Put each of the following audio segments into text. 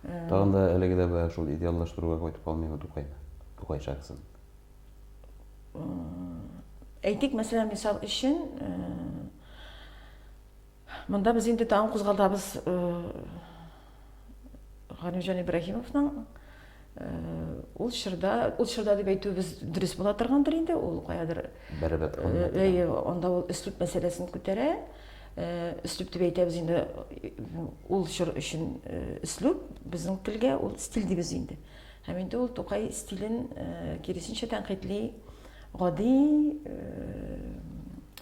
Тагын да әлеге дә бая шул идеаллаштыруга кайтып калмыймы Тукайны, Тукай шәхесен? Әйтик, мәсәлән, мисал өчен, монда без инде тагын кузгалтабыз Галимҗан Ибраһимовның ул чорда ул чорда дип әйтүебез дөрес була торгандыр инде ул каядыр бәрабәт әйе анда ул өслүп мәсьәләсен күтәрә өслүп дип әйтәбез инде ул чор өчен өслүп безнең телгә ул стиль дибез инде һәм инде ул тукай стилен киресенчә тәнкыйтьли гади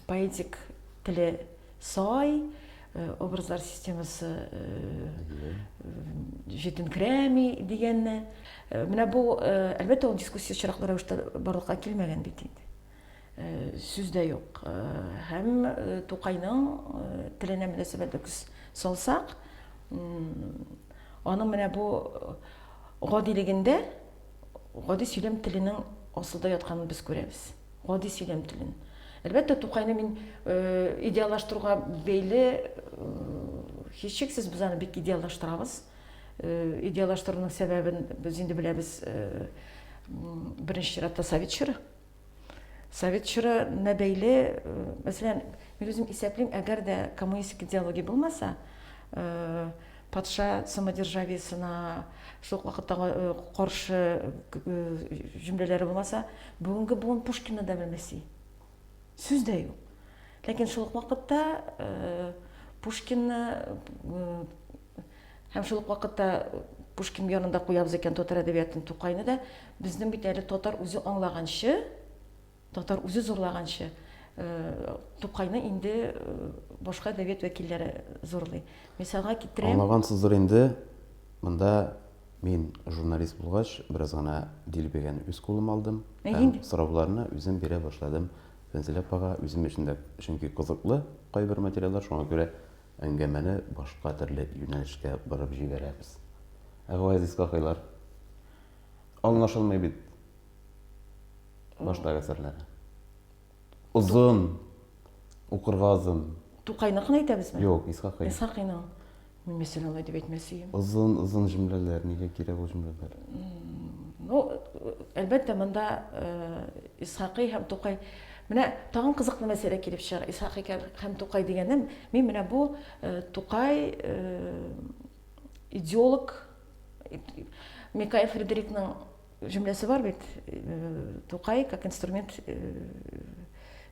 поэтик теле Сай образлар системасы җитенкерәми дигәнне. Менә бу, әлбәттә, ул дискуссия очраклы рәвештә барлыкка килмәгән бит инде. Сүз дә юк. Һәм Тукайның теленә мөнәсәбәт күз салсак, аның менә бу гадилегендә гади сөйләм теленең асылда ятканын без күрәбез. Гади сөйләм телен. Әлбәттә, Тукайны мин идеаллаштыруга бәйле һичшиксез без аны бик идеаллаштырабыз. Идеаллаштыруның сәбәбен без инде беләбез. Беренче чиратта совет чоры. Совет чорына бәйле, мәсәлән, мин үзем исәплим, әгәр дә коммунистик идеология булмаса, Патша самодержавиесенә шул ук вакытта каршы җөмләләре булмаса, бүгенге буын Пушкинны да белмәси. Сүз дә юк. Ләкин шул ук вакытта Пушкинны һәм шул ук вакытта Пушкин янында куябыз икән татар әдәбиятын Тукайны да, безнең бит әле татар үзе аңлаганчы, Татар үзе зурлаганчы, Тукайны инде башка әдәбият вәкилләре зурлый. Мисалга китерәм. Аңлагансыздыр инде, монда мин журналист булгач, бераз гына дилбегән үз кулыма алдым. Һәм сорауларны үзем бирә башладым. Фәнзилә апага үзем өчен дә, чөнки кызыклы кайбер материаллар, шуңа күрә әңгәмәне башка төрле юнәлешкә борып җибәрәбез. Ә Газиз какайлар? Аңлашылмый бит. Баштагы әсәрләре. Озын. Укырга озын. Тукайныкын әйтәбезме? Юк, Исхакый. Исхакыйның. Мин мәсәлән алай дип әйтмәс идем. Озын, озын җөмләләр, нигә кирәк ул җөмләләр? Ну, әлбәттә, монда э, Исхакый һәм Тукай Менә тагын кызыклы мәсьәлә килеп чыга. Исхак икән һәм Тукай дигәнем, мин менә бу э, Тукай э, идеолог Микаэль Фредерикның Җөмләсе бар бит, Тукай как инструмент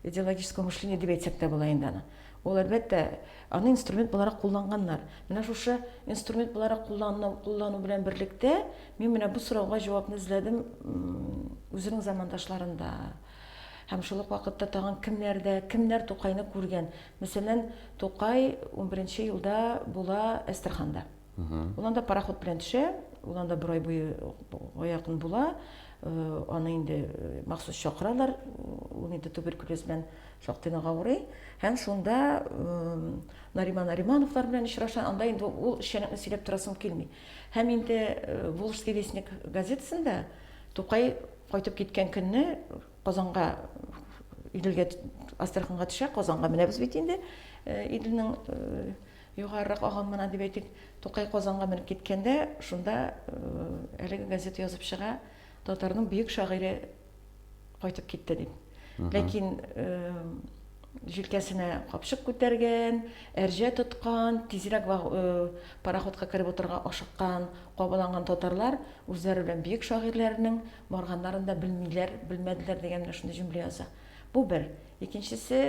идеологического мышления дип әйтсәк тә була инде аны. Ул әлбәттә аны инструмент буларак кулланганнар. Менә шушы инструмент буларак куллану, куллану белән берлектә мин менә бу сорауга җавапны эзләдем үзенең замандашларында. Һәм шул ук вакытта тагын кемнәрдә, кемнәр Тукайны күргән. Мәсәлән, Тукай 11 елда була Әстерханда. Ул анда пароход белән төшә, ул анда бер ай буе якын була. Э, аны инде э, махсус чакыралар, ул инде туберкулез белән шактый нык авырый. Һәм шунда Нариман Наримановлар белән очраша, анда инде ул эшчәнлекне сөйләп торасым килми. Һәм инде э, Волжский вестник газетасында Тукай кайтып киткән көнне Казанга Иделгә Астраханга төшә, Казанга менәбез бит инде. Иделнең Югарырак агым гына дип әйтик, Тукай Казанга менеп киткәндә, шунда әлеге газета язып чыга, татарның бөек шагыйре кайтып китте дип. Ләкин җилкәсенә капчык күтәргән, әрҗә тоткан, тизрәк пароходка кереп утырырга ашыккан, кабаланган татарлар үзләре белән бөек шагыйрьләренең барганнарын да белмиләр, белмәделәр дигән менә шундый җөмлә яза. Бу бер. Икенчесе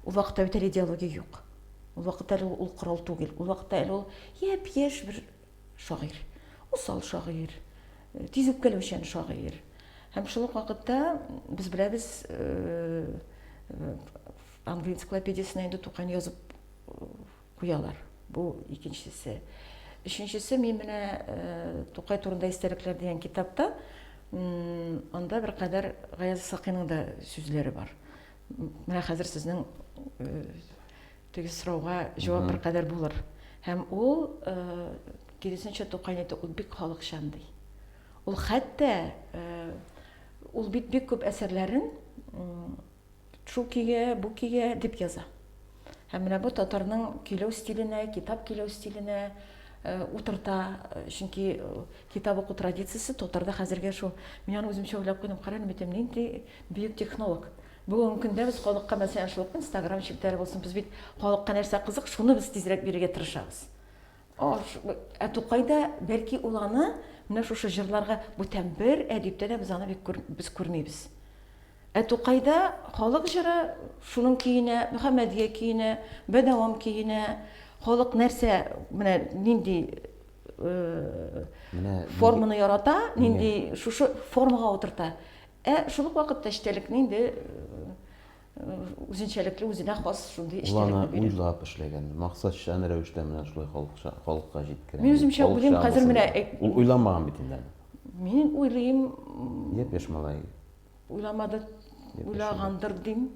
Ул вакытта бит әле идеология юк. Ул вакытта әле ул корал түгел. Ул вакытта әле ул япь-яшь бер шагыйрь. Усал шагыйрь, э, тиз үпкәләүчән шагыйрь. Һәм шул ук вакытта без беләбез э, э, Англия энциклопедиясенә инде Тукайны язып куялар. Бу икенчесе. Өченчесе мин менә Тукай турында истәлекләр дигән китапта анда бер кадәр Гаяз Сакыйның да сүзләре бар. Менә хәзер сезнең теге сорауга җавап бер кадәр булыр. Һәм ул киресенчә Тукай әйтә, ул бик халыкчан ди. Ул хәтта ул бит бик күп әсәрләрен шул көйгә, бу көйгә дип яза. Һәм менә бу татарның көйләү стиленә, китап көйләү стиленә э, утырта, э, чөнки э, китап уку традициясе татарда хәзергә шул. Мин аны үземчә уйлап куйдым, кара нибетем, нинди бөек технолог. Бүгенге көндә без халыкка мәсәлән шул Instagram челтәре булсын, без бит халыкка нәрсә кызык, шуны без тизрәк бирергә тырышабыз. Ә Тукайда, бәлки, ул аны менә шушы җырларга бүтән бер әдиптә дә без аны бик күр, без күрмибез. Ә Тукайда халык җыры шуның көенә, Мөхәммәдия көенә, Бәдәвам көенә, халык нәрсә, менә нинди э, менә форманы ярата, нинди шушы формага утырта. Ә шул ук вакытта эчтәлекне инде э, үзенчәлекле, үзенә хас шундый эчтәлекне бирә. Планы уйлап эшләгән, максатчан рәвештә менә шулай халыкча, халыкка җиткерә. Мин үземчә уйлыйм, хәзер менә Ул уйламаган бит инде әле. Мин уйлыйм. Япь-яшь малай. Уйламады, уйлагандыр дим.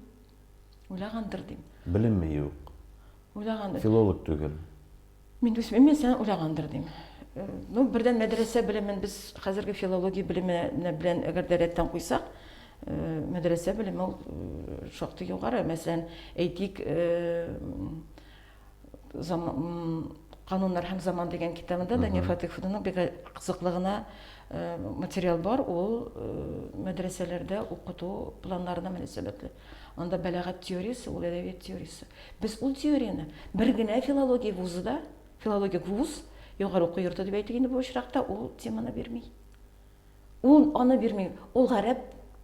Уйлагандыр дим. Белеме юк. Уйлагандыр. Филолог түгел. Мин дусмин мин сән уйлагандыр дим. Э, ну, бердән мәдрәсә белемен без хәзерге филология белеме белән әгәр дә рәттән куйсак, э, мәдрәсә белеме ул э, шактый югары. Мәсәлән, әйтик, кануннар һәм заман дигән китабында Дания Фатиховнаның бик кызыклы гына материал бар, ул мәдрәсәләрдә укыту планнарына мөнәсәбәтле. Анда бәләгать теориясе, ул әдәбият теориясе. Без ул теорияне бер генә филология вузы да, филологик вуз, югары уку йорты дип әйтик инде бу очракта, ул теманы бирми. Ул аны бирми. Ул гарәп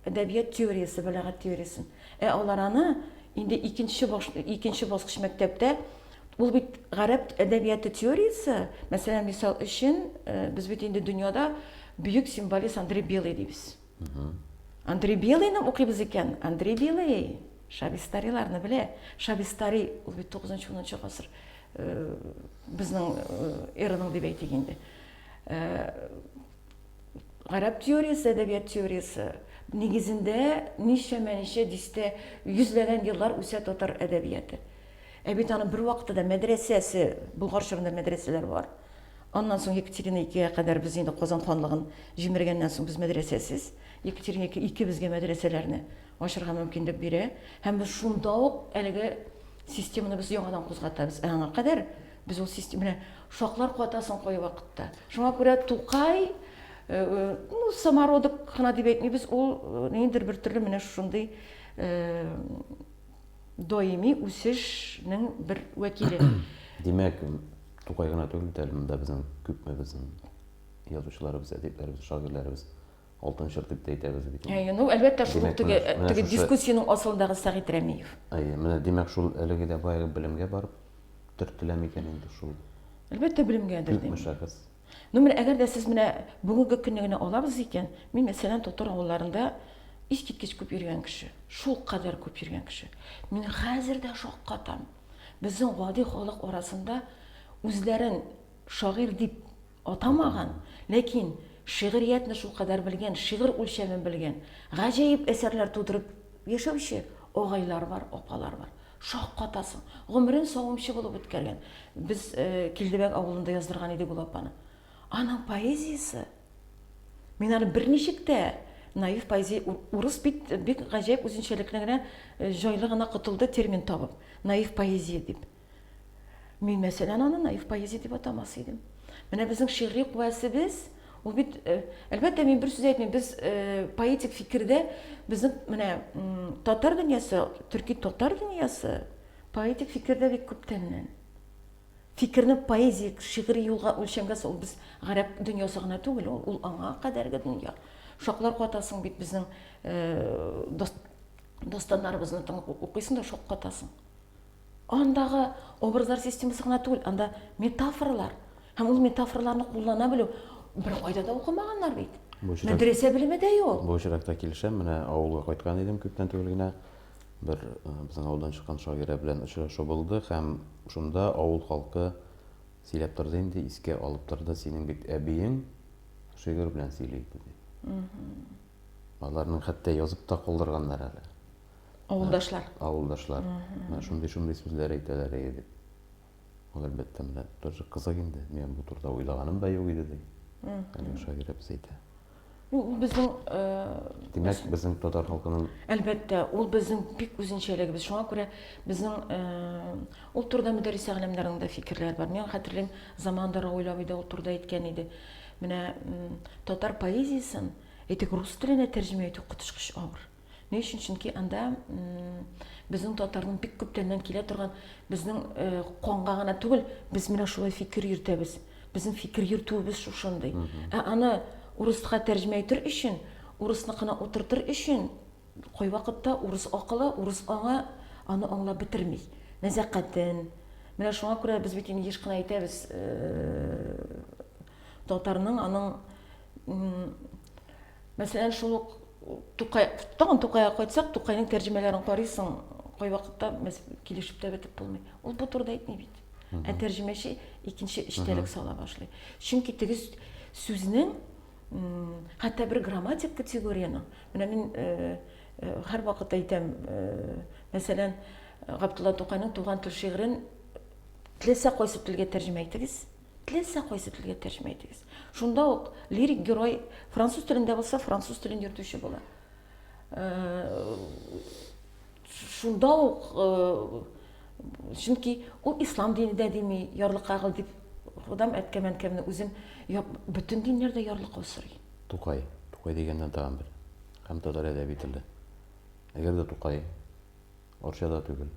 әдәбият теориясе, бәләгать теориясен. Ә алар аны инде икенче баш, икенче баскыч мәктәптә ул бит гарәп әдәбияты теориясе, мәсәлән, мисал өчен, э, без бит инде дөньяда бөек символист Андрей Белый дибез. Андрей Белыйны укыйбыз икән, Андрей Белый Шабистариларны белә. Шабистари ул бит 9-10 гасыр э, безнең э, эраның дип әйтик инде. Э, гарәп теориясе, әдәбият теориясе нигезендә ничәмә ничә дистә йөзләгән еллар үсә татар әдәбияты. Ә бит аның бер вакытта да мәдрәсәсе, Болгар чорында мәдрәсәләр бар. Аннан соң Екатерина икегә кадәр без инде Казан ханлыгын җимергәннән соң без мәдрәсәсез. Екатерина ике, ике безгә мәдрәсәләрне ачырга мөмкинлек бирә. Һәм без шунда ук әлеге системаны без яңадан кузгатабыз. Ә аңа кадәр без ул система менә шаклар куата соң кай вакытта. Шуңа күрә Тукай Э, э, ну, самородок кына дип әйтмибез, ул э, ниндидер бер төрле менә шушындый даими үсешнең бер вәкиле. Димәк, Тукай гына түгел бит әле монда безнең күпме безнең язучыларыбыз, әдипләребез, шагыйрьләребез алтын чор дип тә әйтәбез бит. Әйе, ну әлбәттә шул ук теге теге дискуссиянең асылындагы Сәгыйть Рәмиев. Әйе, менә димәк шул әлеге дә баягы белемгә барып төртелә микән инде шул? Әлбәттә белемгәдер. Күпме шәхес? Ну менә әгәр дә сез менә бүгенге көнне генә алабыз икән, мин мәсәлән татар авылларында искиткеч күп йөргән кеше, шул кадәр күп йөргән кеше. Мин хәзер дә шаккатам. Безнең гади халык арасында үзләрен шагыйрь дип атамаган, ләкин шигъриятне шулкадәр белгән, шигырь үлчәмен белгән, гаҗәеп әсәрләр тудырып яшәүче агайлар бар, апалар бар. Шаккатасың. Гомерен савымчы булып үткәргән. Без Килдебәк авылында яздырган идек ул апаны. Аның поэзиясе Мин аны берничек тә наив поэзия урыс бит бик гаҗәп үзенчәлекле генә э, җайлы гына котылды термин табып. Наив поэзия дип. Мин мәсәлән аны наив поэзия дип атамас идем. Менә безнең шигъри куәсебез ул бит э, әлбәттә мин бер сүз әйтмим, без э, поэтик фикердә безнең менә татар дөньясы, төрки татар дөньясы поэтик фикердә бик күптәннән. Фикерне поэзик, шигъри юлга үлчәнгән соң, ул без гарәп дөньясы гына түгел, ул, ул аңа кадәрге дөнья. Шаклар катасың бит безнең э, достаннарыбызны тыңлап укыйсың да шок катасың. Андагы образлар системасы гына түгел, анда метафоралар. Һәм ул метафораларны куллана белү бер кайда да укымаганнар бит. Мәдрәсә белеме дә юк. Бу очракта килешәм, менә авылга кайткан идем күптән түгел генә. Бер безнең авылдан чыккан шагыйрә белән очрашу булды һәм шунда авыл халкы сөйләп торды инде, искә алып торды, синең бит әбиең шигырь белән сөйли иде дип. Аларның хәтта язып та калдырганнар әле. Авылдашлар. Авылдашлар. Шундый-шундый сүзләр әйтәләр иде дип. Ул әлбәттә менә бер кызык инде. Мин бу турыда уйлаганым да юк иде ди. Әлеге шагыйрә без әйтә. Ну, ул безнең э, Димәк, безнең татар халкының Әлбәттә, ул безнең бик үзенчәлегебез. Шуңа күрә безнең э, ул турыда Мөдәррис әгъләмнәрнең дә фикерләре бар. Мин хәтерлим, заманда Равил абый да ул турыда әйткән иде. Менә татар поэзиясен әйтик рус теленә тәрҗемә итү коточкыч авыр. Ни өчен? Чөнки анда безнең татарның бик күптәннән килә торган безнең э, канга гына түгел, без менә шулай фикер йөртәбез. Безнең фикер йөртүебез шушындый. Ә аны урыска тәрҗемә итер өчен, урысныкына утыртыр өчен кайвакытта урыс акылы, урыс аңы аны аңлап бетерми. Нәзәкатен. Менә шуңа күрә без бит инде еш кына әйтәбез, э, татарның аның Мәсәлән, шул ук Тукай, тагын Тукайга кайтсак, Тукайның тәрҗемәләрен карыйсың, кайвакытта без килешеп тә бетеп булмый. Ул бу турыда әйтми бит. Ә тәрҗемәче икенче эчтәлек сала башлый. Чөнки теге сүзнең хәтта бер грамматик категорияның, менә мин э, э, һәр вакыт әйтәм, э, мәсәлән, Габдулла Тукайның туган тел шигырен теләсә кайсы телгә тәрҗемә итегез, Теләсә кайсы телгә тәрҗемә итегез. Шунда ук лирик герой француз телендә булса, француз телен йөртүче була. Э, шунда ук э, чөнки ул ислам дине дә дими, ярлыкагыл дип Худам әткәмәнкәмне үзем бөтен диннәрдә ярлыкау сорый. Тукай, Тукай дигәннән тагын бер һәм татар әдәби теле. Әгәр дә Тукай Орчада түгел,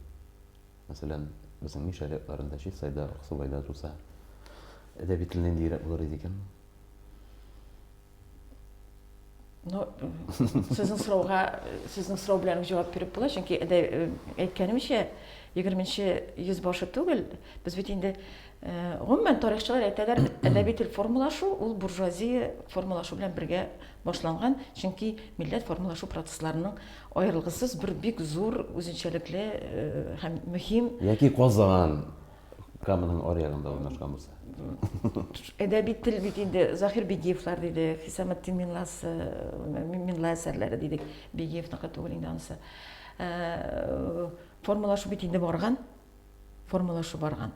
Мәсәлән, безнең мин шәрыятларында Чистайда, Аксубайда туса, әдәби тел ниндиерәк булыр иде икән? Ну, сезнең сорауга, сезнең сорау белән җавап биреп була, чөнки әдә әйткәнемчә, 20-нче йөз башы түгел, без бит инде гомумән тарихчылар әйтәләр, әдәби тел формалашу ул буржуазия формалашу белән бергә башланган, чөнки милләт формалашу процессларының Аерылгысыз бер бик зур үзенчәлекле һәм мөһим яки Казан Каманың аръягында урнашкан булса. Әдәби тел бит инде Захир Бигиевлар диде, Хисаметдин Минласы, Минла әсәрләре дидек, Бигиевныкы түгел инде анысы. Э, формалашу бит инде барган, формалашу барган.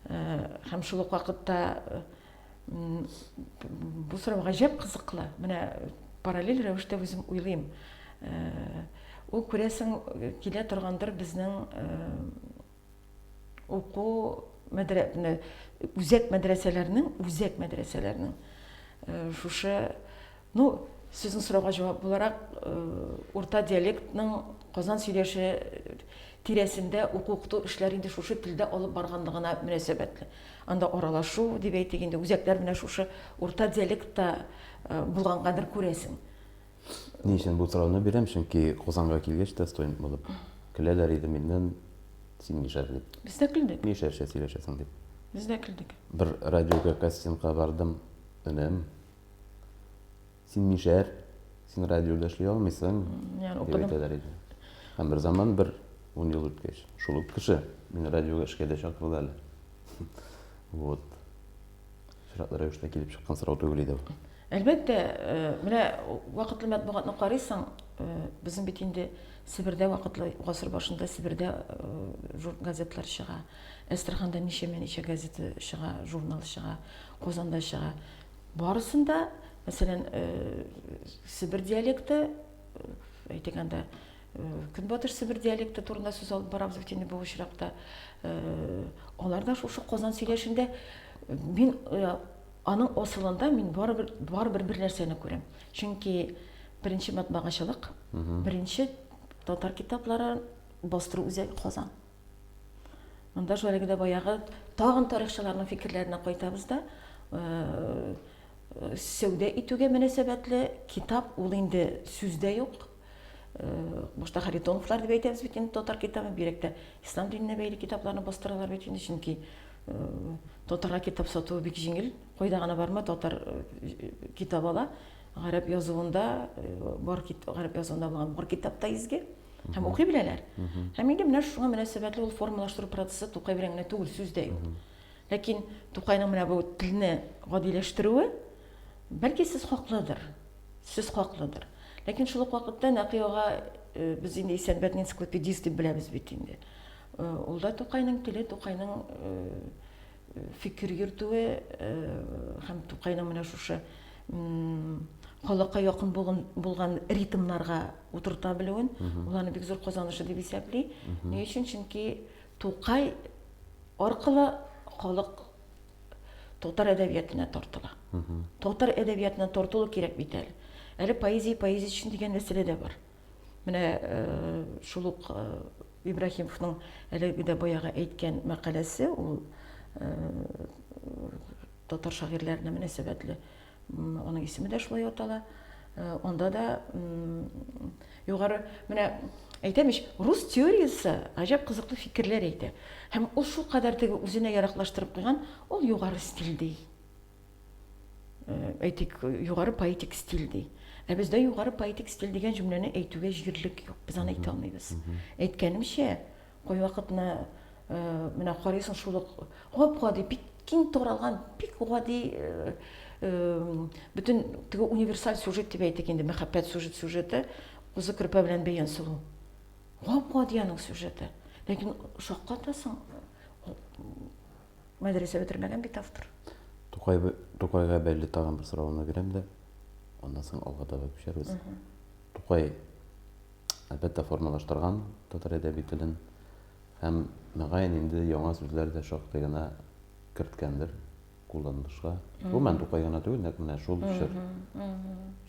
Э, һәм шул ук вакытта э, Бу сорау гаҗәп кызыклы. Менә параллель рәвештә үзем уйлыйм. Э, ул күрәсең килә торгандыр безнең э, уку мәдрә үзәк мәдрәсәләрнең үзәк мәдрәсәләрнең э, шушы ну сезнең сорауга җавап буларак урта диалектның казан сөйләше тирәсендә уку-укыту эшләре инде шушы телдә алып барганлыгына мөнәсәбәтле. Анда аралашу, дип әйтик инде, үзәкләр менә шушы урта диалектта булгангадыр, күрәсең. Ни өчен бу сорауны бирәм, чөнки Казанга килгәч тә студент булып көләләр иде миннән, син мишәр дип. Без дә көлдек. Мишәрчә сөйләшәсең дип. Без дә көлдек. Бер радиога кастингка бардым, энем, син мишәр, син радиода эшли алмыйсың, дип әйтәләр иде. Һәм бер заман бер ун ел үткәч, шул ук кеше мине радиога эшкә дә чакырды әле. Вот. Сюжетлы рәвештә килеп чыккан сорау түгел иде бу. Әлбәттә, э, менә вакытлы матбугатны карыйсың, э, безнең бит инде Себердә вакытлы гасыр башында Себердә э, газетлар чыга. Әстраханда ничәмә ничә газета чыга, журнал чыга, Казанда чыга. Барысын да, мәсәлән, э, Себер диалекты, э, әйтик анда, э, Көнбатыш Себер диалекты турында сүз алып барабыз бит инде бу очракта. Э, алар да шушы Казан сөйләшендә э, мин э, аның асылында мин барыбер барыбер бер нәрсәне күрәм. Чөнки беренче матбагачылык, беренче татар китаплары бастыру үзәге Казан. Монда шул әлеге дә баягы тагын тарихчыларның фикерләренә кайтабыз да, э, сәүдә итүгә мөнәсәбәтле китап ул инде сүздә юк. Э, башта Харитоновлар дип әйтәбез бит инде татар китабы, бирәктә ислам диненә бәйле китапларны бастыралар бит инде, чөнки э, татарга китап сатуы бик җиңел. Кайда гына барма татар китап ала. Гарәп язуында бар кит, гарәп язуында булган бар китапта изге. Һәм укый беләләр. Һәм инде менә шуңа мөнәсәбәтле ул формалаштыру процессы Тукай белән генә түгел, сүз дә юк. Ләкин Тукайның менә бу телне гадиләштерүе, бәлки сез хаклыдыр. Сез хаклыдыр. Ләкин шул ук вакытта Нәкыйга э, без инде Исәнбәтне энциклопедист дип беләбез бит инде. Э, ул да Тукайның теле, Тукайның э, фикер йөртүе һәм Тукайның менә шушы халыкка якын булган ритмнарга утырта белүен, ул аны бик зур казанышы дип исәпли. Ни өчен? Чөнки Тукай аркылы халык татар әдәбиятына тартыла. Татар әдәбиятына тартылу кирәк бит әле. Әле поэзия, поэзия өчен дигән мәсьәлә дә бар. Менә шул ук Ибраһимовның әлеге дә баягы әйткән мәкаләсе, ул татар шагыйрьләренә мөнәсәбәтле. Аның исеме дә шулай атала. Анда да югары менә әйтәм ич, рус теориясе гаҗәп кызыклы фикерләр әйтә. Һәм ул шул кадәр теге үзенә яраклаштырып куйган, ул югары стиль ди. әйтик, югары поэтик стиль ди. Ә бездә югары поэтик стиль дигән җөмләне әйтүгә җирлек юк. Без аны әйтә алмыйбыз. Әйткәнемчә, кайвакытны менә карыйсың шул ук гап-гади, бик киң таралган, бик гади бөтен теге универсаль сюжет дип әйтик инде, мәхәббәт сюжет сюжеты, кузы керпә белән бәян сылу. Гап-гади аның сюжеты. Ләкин шаккатасың, Мәдрәсә бетермәгән бит автор. Тукай, Тукайга бәйле тагын бер соравымны бирәм дә, аннан соң алга таба күчәрбез. Тукай, әлбәттә, формалаштырган татар әдәби телен һәм, мөгаен, инде яңа сүзләр дә шактый гына керткәндер кулланылышка. Гомумән, Тукай гына түгел, нәкъ менә шул чор.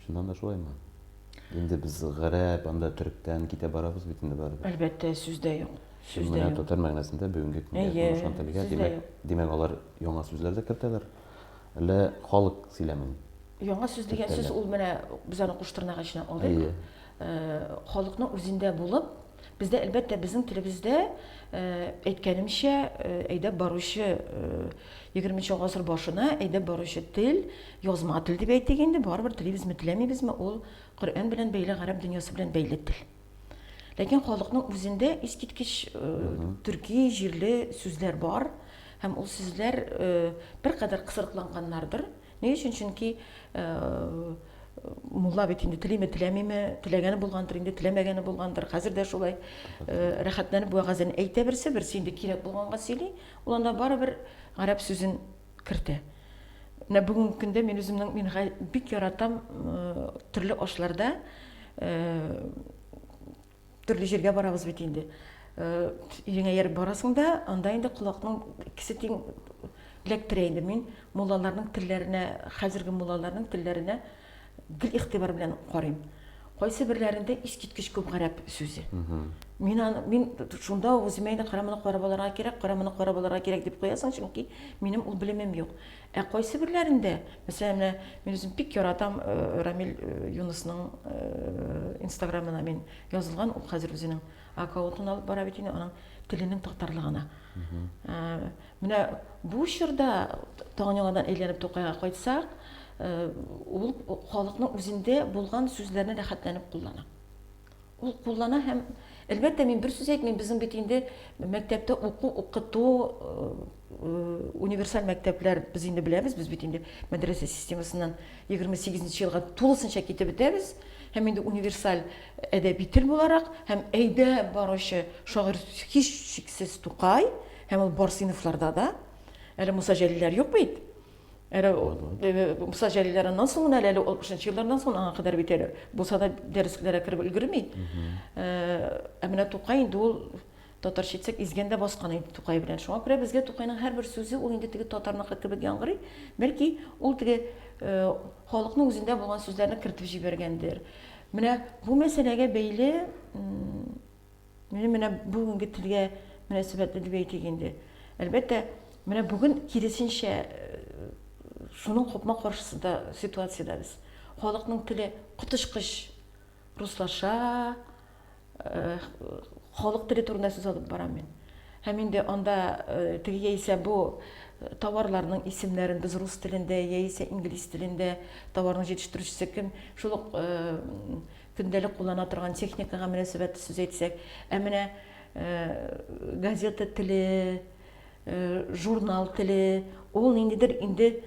Чыннан да шулаймы? Инде без гарәп, анда төректән китә барабыз бит инде барыбер. Әлбәттә, сүз дә юк. Сүз дә юк. Татар мәгънәсендә бүгенге көнгә урнашкан телгә, димәк, димәк, алар яңа сүзләр дә кертәләр. Әллә халык сөйләмен? Яңа сүз дигән сүз ул менә без аны куш тырнагы эченә алдык. Халыкның үзендә булып, бездә әлбәттә безнең телебездә әйткәнемчә әйдәп баручы 20 гасыр башына әйдәп баручы тел, язма тел дип әйтик инде, барыбер телибезме, теләмибезме, ул Коръән белән бәйле, гарәп дөньясы белән бәйле тел. Ләкин халыкның үзендә искиткеч төрки җирле сүзләр бар, һәм ул сүзләр беркадәр кысрыкланганнардыр. Ни өчен? Чөнки мулла бит инде телиме, теләмиме, теләгәне булгандыр, инде теләмәгәне булгандыр. Хәзер дә шулай рәхәтләнеп вәгазен әйтә берсе, берсе инде кирәк булганга сөйли. Ул анда барыбер гарәп сүзен кертә. Менә бүгенге көндә мин үземнең мин бик яратам төрле ашларда төрле җиргә барабыз бит инде. Иреңә ярып барасың да, анда инде колакның икесе тиң эләктерә инде. Мин муллаларның телләренә, хәзерге муллаларның телләренә гел игътибар белән карыйм. Кайсы берләрендә искиткеч күп гарәп сүзе. Мин аны мин шунда ук үземә инде караманы карап алырга кирәк, караманы карап алырга кирәк дип куясың, чөнки минем ул белемем юк. Ә кайсы берләрендә, мәсәлән, менә мин үзем бик яратам э, Рамил э, Юнысның э, инстаграмына мин язылган, ул хәзер үзенең аккаунтын алып бара бит инде, аның теленең татарлыгына. Ә, Менә бу чорда, тагын яңадан әйләнеп Тукайга кайтсак, ул халыкның үзендә булган сүзләрне рәхәтләнеп куллана. Ул куллана һәм, әлбәттә, мин бер сүз әйтмим, безнең бит инде мәктәптә уку, укыту, универсаль мәктәпләр без инде беләбез, без бит инде мәдрәсә системасыннан 28 нче елга тулысынча китеп бетәбез һәм инде универсаль әдәби тел буларак һәм әйдәп баручы шагыйрь һичшиксез Тукай. Һәм ул бар сыйныфларда да әле Муса Җәлилләр юк бит. Әле э, Муса Җәлилләреннән соң гына әле 60 еллардан соң аңа кадәр бит әле булса да дәресләргә кереп өлгерми. Э, ә менә Тукай инде ул татарча әйтсәк изгәндә баскан инде Тукай белән. Шуңа күрә безгә Тукайның һәрбер сүзе ул инде теге татарныкы кебек яңгырый. Бәлки ул теге э, халыкның үзендә булган сүзләрне кертеп җибәргәндер. Менә бу мәсьәләгә бәйле Менә менә бүгенге телгә мөнәсәбәтле дип әйтик инде. Әлбәттә, менә бүген киресенчә э, шуның купма каршысында ситуациядә без. Халыкның теле котышкыч руслаша, э, халык теле турында сүз алып барам мин. Һәм инде анда э, теге яисә бу товарларның исемнәрен без рус телендә яисә инглиз телендә товарның җитештерүчесе кем шул ук Көндәлек куллана торган техникага мөнәсәбәтле сүз әйтсәк, ә менә газета теле, журнал теле, ул ниндидер инде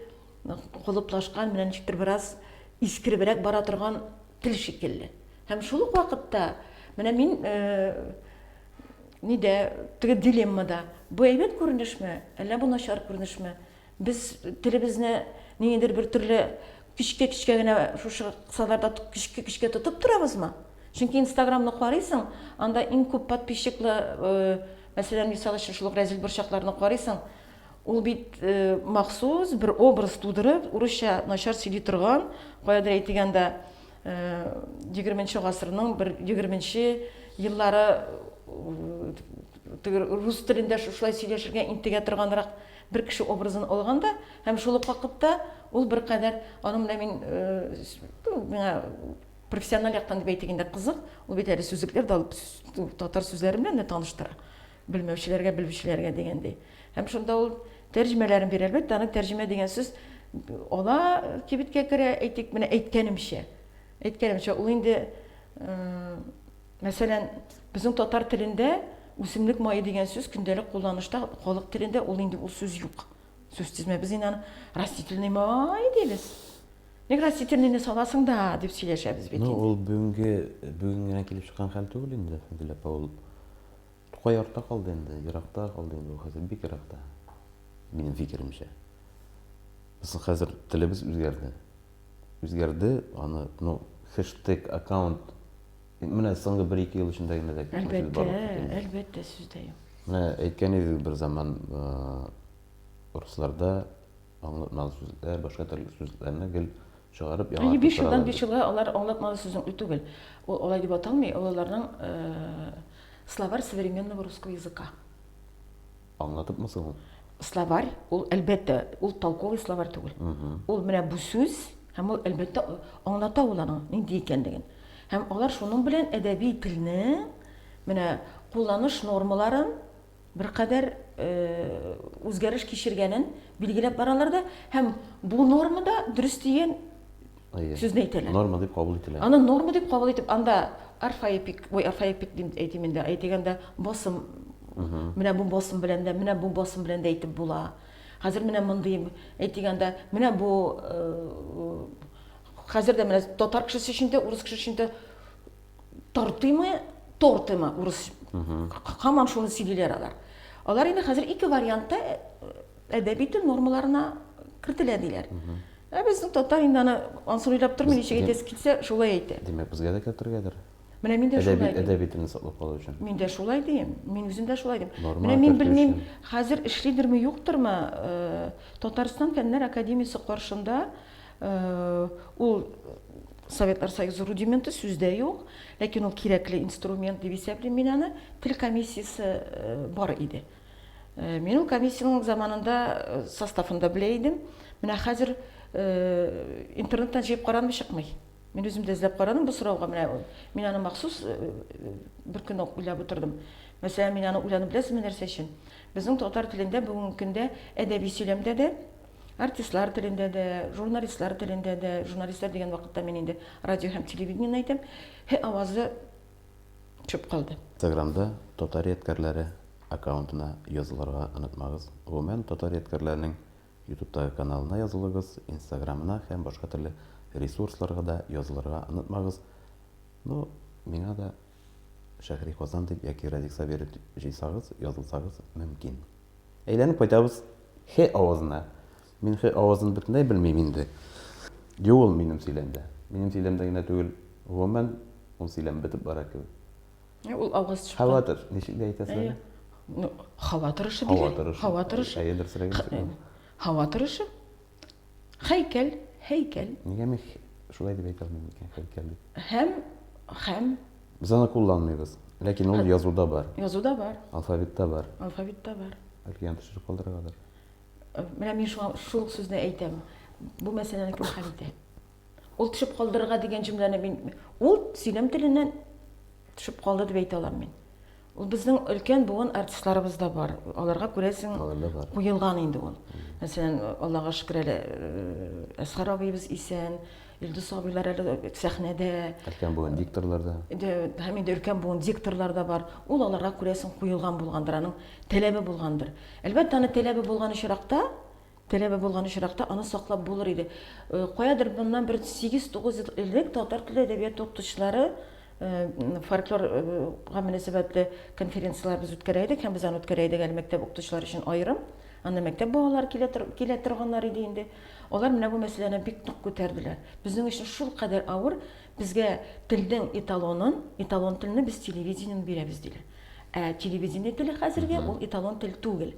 колыплашкан, менә ничектер бераз искеребрәк бара торган тел шикелле. Һәм шул ук вакытта менә мин нидә, теге дилеммада, бу әйбәт күренешме, әллә бу начар күренешме? Без телебезне ниндидер бер төрле көчкә-көчкә генә шушы кысаларда көчкә-көчкә тотып торабызмы? Чөнки Инстаграмны карыйсың, анда иң күп подписчиклы, э, мәсәлән, мисал өчен шул ук Рәзил борчакларны карыйсың, ул бит э, махсус бер образ тудырып, урысча начар сөйли торган, каядыр әйтегәндә, э, 20 гасырның бер 20 еллары э, теге рус телендә шушылай сөйләшергә интегә торганрак Бер кеше образын алганда һәм шул ук вакытта ул беркадәр аның белән мин миңа профессиональ яктан дип әйтик инде кызык, ул бит әле сүзлекләр дә алып татар сүзләре белән дә таныштыра. Белмәүчеләргә, белүчеләргә дигәндәй. Һәм шунда ул тәрҗемәләрен бирә. Әлбәттә, аны тәрҗемә дигән сүз ала кибеткә керә, әйтик, менә әйткәнемчә. Әйткәнемчә, ул инде, мәсәлән, безнең татар телендә үсемлек мае дигән сүз көндәлек кулланышта, халык телендә ул инде ул сүз юк. Сүз тезмә без инде аны растительный май дибез. Ник растительныйны саласың да, дип сөйләшәбез бит. Ну, ул бүгенге бүген генә килеп чыккан хәл түгел инде, Фәнзилә апа, ул Тукай артта калды инде, еракта калды инде, ул хәзер бик еракта, минем фикеремчә. Безнең хәзер телебез үзгәрде. Үзгәрде, аны, ну, хэштег, аккаунт, менә соңгы бер-ике ел эчендә генә дә Әлбәттә, әлбәттә, сүз дә юк. Менә әйткән идегез бер заман русларда аңлатмалы сүзләр, башка төрле сүзләрне гел чыгарып яңа. Әйе, биш елдан биш елга алар аңлатмалы сүзең ү түгел. Ул алай дип аталмый, олыларның словарь современного русского языка. Аңлатыпмы соң ул? Словарь, ул әлбәттә, ул толковый словарь түгел. Ул менә бу сүз, һәм ул әлбәттә аңлата ул аның нинди икәнлеген. Һәм алар шуның белән әдәби телне менә кулланыш нормаларын беркадәр э, үзгәреш кичергәнен билгеләп баралар да, һәм бу нормада дөрес дигән сүзне әйтәләр. Норма дип кабул ителә. Аны норма дип кабул итеп, анда орфоэпик, ой, орфоэпик дип әйтим инде, әйтик анда басым, менә бу басым белән дә, менә бу басым белән дә әйтеп була. Хәзер менә мондый, әйтик анда, менә бу, хәзер дә менә татар кешесе өчен дә, урыс кешесе өчен дә тортыймы, тортыймы, урыс, хаман шуны сөйлиләр алар. Алар инде хәзер ике вариантта Әдәби тел нормаларына кертелә диләр. Ә безнең татар инде аны ансыр уйлап тормый, ничек әйтәсе килсә, шулай әйтә. Димәк, безгә дә кертергәдер. Менә мин дә шулай дим. Әдәби телне саклап калу өчен. Мин дә шулай дим. Мин үзем дә шулай дим. Менә мин белмим, хәзер эшлидерме, юктырмы, э, Татарстан фәннәр академиясе каршында э, ул Советлар Союзы рудименты сүздә юк, ләкин ул кирәкле инструмент дип исәплим мин аны. Тел комиссиясе э, бар иде. Э, мин ул комиссиянең заманында э, составын да белә идем менә хәзер э, интернеттан җыеп карадым чыкмый мин үзем дә эзләп карадым бу сорауга менә мин аны махсус бер көн үк уйлап утырдым мәсәлән мин аны уйланып беләсезме нәрсә өчен безнең татар телендә бүгенге көндә әдәби сөйләмдә дә артистлар телендә дә журналистлар телендә дә журналистлар дигән вакытта мин инде радио һәм телевидениене әйтәм һе авазы төшеп калды. Инстаграмда Татар ядкәрләре аккаунтына язылырга онытмагыз. Гомумән, Татар ядкәрләренең Ютубтагы каналына язылыгыз, Инстаграмына һәм башка төрле ресурсларга да язылырга онытмагыз. Ну, миңа да Шәһри Казан дип яки Радик Сабиров дип җыйсагыз, язылсагыз мөмкин. Әйләнеп кайтабыз Хе авызына. Мин Х авазын бөтенләй белмим инде. Юк ул минем сөйләмдә. Минем сөйләмдә генә түгел, гомумән ул сөйләм бетеп бара кебек. Ул август чыкты. Хаватыр, ничек дә әйтәсез әле? Ну, һава торышы диген. Һава торышы. Һава торышы. Әйе, дөресрәк итә. Һава торышы. Хәйкәл, хәйкәл. Нигә мин шулай дип әйтә алмыйм икән, хәйкәл дип? Һәм, һәм. Без аны кулланмыйбыз. Ләкин ул язуда бар. Язуда бар. Алфавитта бар. Алфавитта бар. Әлки ян төшереп калдырыргадыр. Менә мин шуңа шул сүзне әйтәм. Бу мәсьәләне кем хәл итә? Ул төшеп калдырырга дигән җөмләне мин ул сөйләм теленнән төшеп калды дип әйтә алам мин. Ул безнең өлкән буын артистларыбыз да бар. Аларга күрәсең куелган инде ул. Мәсәлән, Аллага шөкер әле э, Әсхар абыебыз исән, Илдус абыйлар әле сәхнәдә. Өлкән буын дикторлар да. Һәм инде өлкән буын дикторлар да бар. Ул аларга күрәсең куелган булгандыр, аның таләбе булгандыр. Әлбәттә, аны таләбе булган очракта, таләбе булган очракта аны саклап булыр иде. Каядыр моннан бер 8-9 ел элек татар теле әдәбияты укытучылары фольклор га мөнәсәбәтле конференцияләр без үткәрә идек һәм без аны үткәрә идек әле мәктәп укытучылары өчен аерым. Анда мәктәп балалары килә, килә торганнар иде инде. Алар менә бу мәсьәләне бик нык күтәрделәр. Безнең өчен шул кадәр авыр, Безгә телнең эталонын, эталон телне без телевидениене бирәбез, диләр. Ә телевидение теле хәзерге ул эталон тел түгел.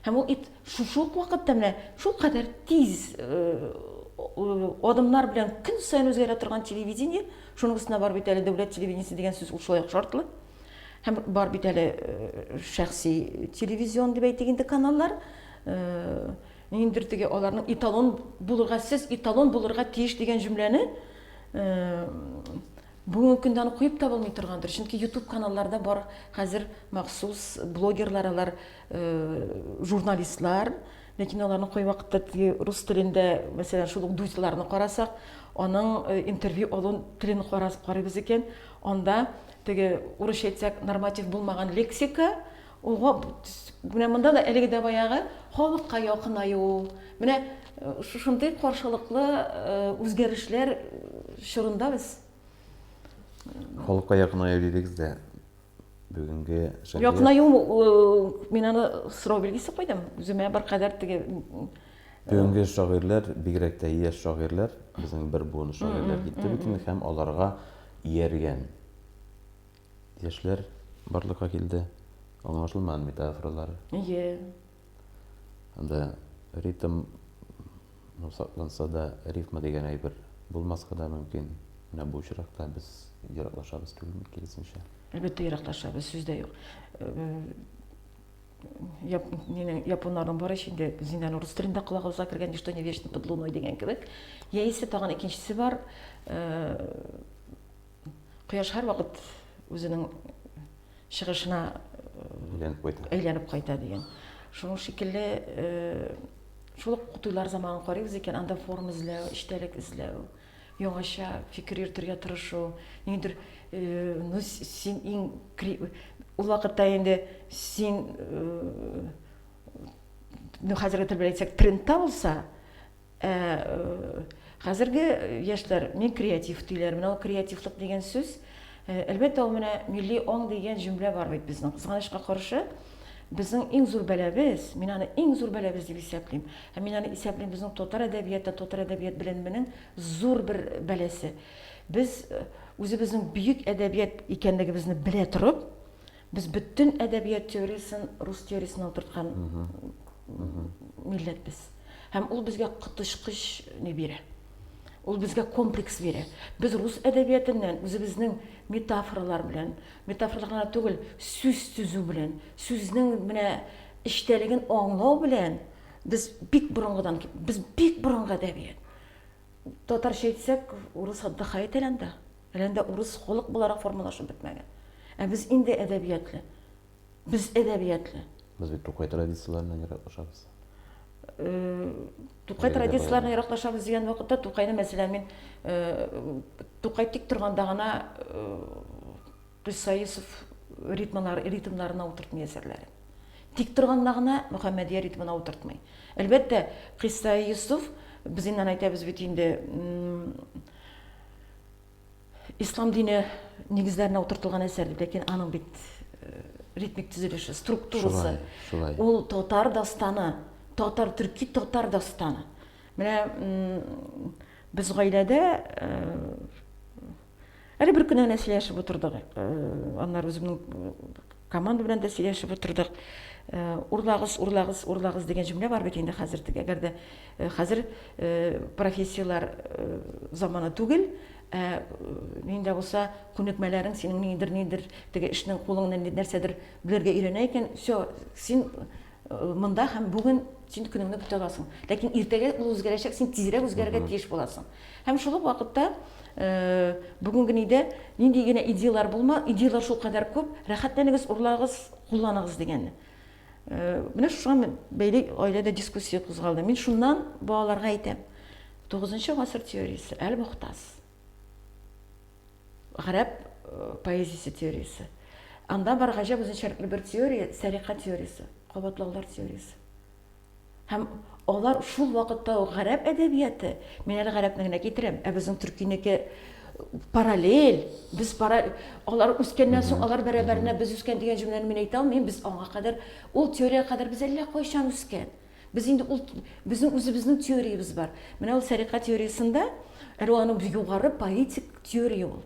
Һәм ул ит шушы ук вакытта менә шул кадәр тиз адымнар белән көн саен үзгәрә торган телевидение, шуның өстенә бар бит әле дәүләт телевидениесе дигән сүз ул шулай ук шартлы. Һәм бар бит әле шәхси телевизион дип әйтик инде каналлар. Ниндер теге аларның эталон булырга, сез эталон булырга тиеш дигән җөмләне бүгенге көндә аны куеп та булмый торгандыр чөнки ютуб каналларда бар хәзер махсус блогерлар алар журналистлар ләкин аларны кай вакытта теге рус телендә мәсәлән шул ук дузларны карасак аның интервью алу телен карарбыз икән анда теге урысча әйтсәк норматив булмаган лексика Ул гап менә монда да әлеге дә баягы халыкка якынаю, менә шушындый каршылыклы үзгәрешләр чорында без Халыкка якынаю дидегез дә, бүгенге шәһәр Якынаю мин аны сорау билгесе куйдым. Үземә беркадәр теге Бүгенге шагыйрьләр, бигрәк тә яшь шагыйрьләр, безнең бер буын шагыйрьләр китте бит инде һәм аларга ияргән Яшьләр барлыкка килде. Аңлашылмаган метафоралар. Ие. Анда ритм сакланса да, рифма дигән әйбер булмаска да мөмкин. Менә бу очракта без ераклашабыз түгелме, киресенчә? Әлбәттә, ераклашабыз, сүз дә юк. Яп, нинең, японнарның бар ич инде, зиндан урыс телендә колагыбызга кергән ничто не вечно под луной дигән кебек. Яисә тагын икенчесе бар, Кояш һәрвакыт үзенең чыгышына әйләнеп кайта. Әйләнеп кайта дигән. Шуның шикелле э, шул ук туйлар заманын карыйбыз икән, анда форма эзләү, эчтәлек эзләү, яңача фикер йөртергә тырышу. Ниндидер э, ну син иң ул вакытта инде син э, ну хәзерге тел белән әйтсәк, трендта булса, Ә хәзерге яшьләр мин креатив диләр. Менә ул креативлык дигән сүз, әлбәттә, ул менә милли аң дигән җөмлә бар бит безнең. Кызганычка каршы, безнең иң зур бәлабез, мин аны иң зур бәлабез дип исәплим. Һәм мин аны исәплим безнең татар әдәбияты, татар әдәбият беленменең зур бер бәласе. Без үзебезнең бөек әдәбият икәнлегебезне белә торып, Без бөтен әдәбият теориясен рус теориясенә утырткан милләт без. Һәм ул безгә коточкыч не бирә. Ул безгә комплекс бирә. Без рус әдәбиятыннан үзебезнең метафоралар белән, метафоралар гына түгел, сүз төзү белән, сүзнең менә эчтәлеген аңлау белән без бик борынгыдан, без бик борынгы әдәбият. Татарча әйтсәк, урыс отдыхает әле анда. Әле анда урыс халык буларак формалашып бетмәгән. Ә без инде әдәбиятле. Без әдәбиятле. Без бит Тукай традицияләреннән яраклашабыз. Э, Тукай традицияләреннән яраклашабыз дигән вакытта Тукайны, мәсәлән, мин э, Тукай тик торганда гына Кыйсаисов э, ритмалар, ритмнарына утыртмый әсәрләре. Тик торганда гына Мөхәммәдия ритмына утыртмый. Әлбәттә, Кыйсаисов, без инде әйтәбез бит инде, Ислам дине нигезләренә утыртылган әсәр дип, ләкин аның бит э, ритмик төзелеше, структурасы. Шулай, Ул татар дастаны, татар төрки татар дастаны. Менә без гаиләдә э, әле бер көн генә сөйләшеп утырдык. Э, аннары үземнең команда белән дә сөйләшеп утырдык. Урлагыз, урлагыз, урлагыз дигән җөмлә бар бит инде хәзер. Әгәр дә Хәзер профессияләр заманы түгел, ә нинди дә булса күнекмәләрең синең нидер нидер теге эшнең кулыңны нәрсәдер белергә өйрәнә икән, все, син монда һәм бүген син көнеңне көтә аласың. Ләкин иртәгә ул үзгәрәчәк, син тизрәк үзгәрергә тиеш буласың. Һәм шул ук вакытта бүгенге нидә нинди генә идеяләр булма, идеяләр шулкадәр күп, рәхәтләнегез, урлагыз, кулланыгыз дигән. Э, менә шуңа мен бәйле гаиләдә дискуссия кузгалды мин шуннан балаларга әйтәм тугызынчы гасыр теориясе әл мохтас гарәп э, поэзиясе теориясе анда бар гаҗәп үзенчәлекле бер теория сәрика теориясе кабатлаулар теориясе Һәм алар шул вакытта ук гарәп әдәбияты, мин әле гарәпне генә китерәм, ә безнең төркинеке параллель, без пара, алар үскәннән соң алар бәрабәренә без үскән дигән җөмләне мин әйтә алмыйм, без аңа кадәр, ул теориягә кадәр без әллә кайчан үскән. Без инде ул, безнең үзебезнең теориябез бар. Менә ул сәрикат теориясендә, әле аның югары поэтик теория ул.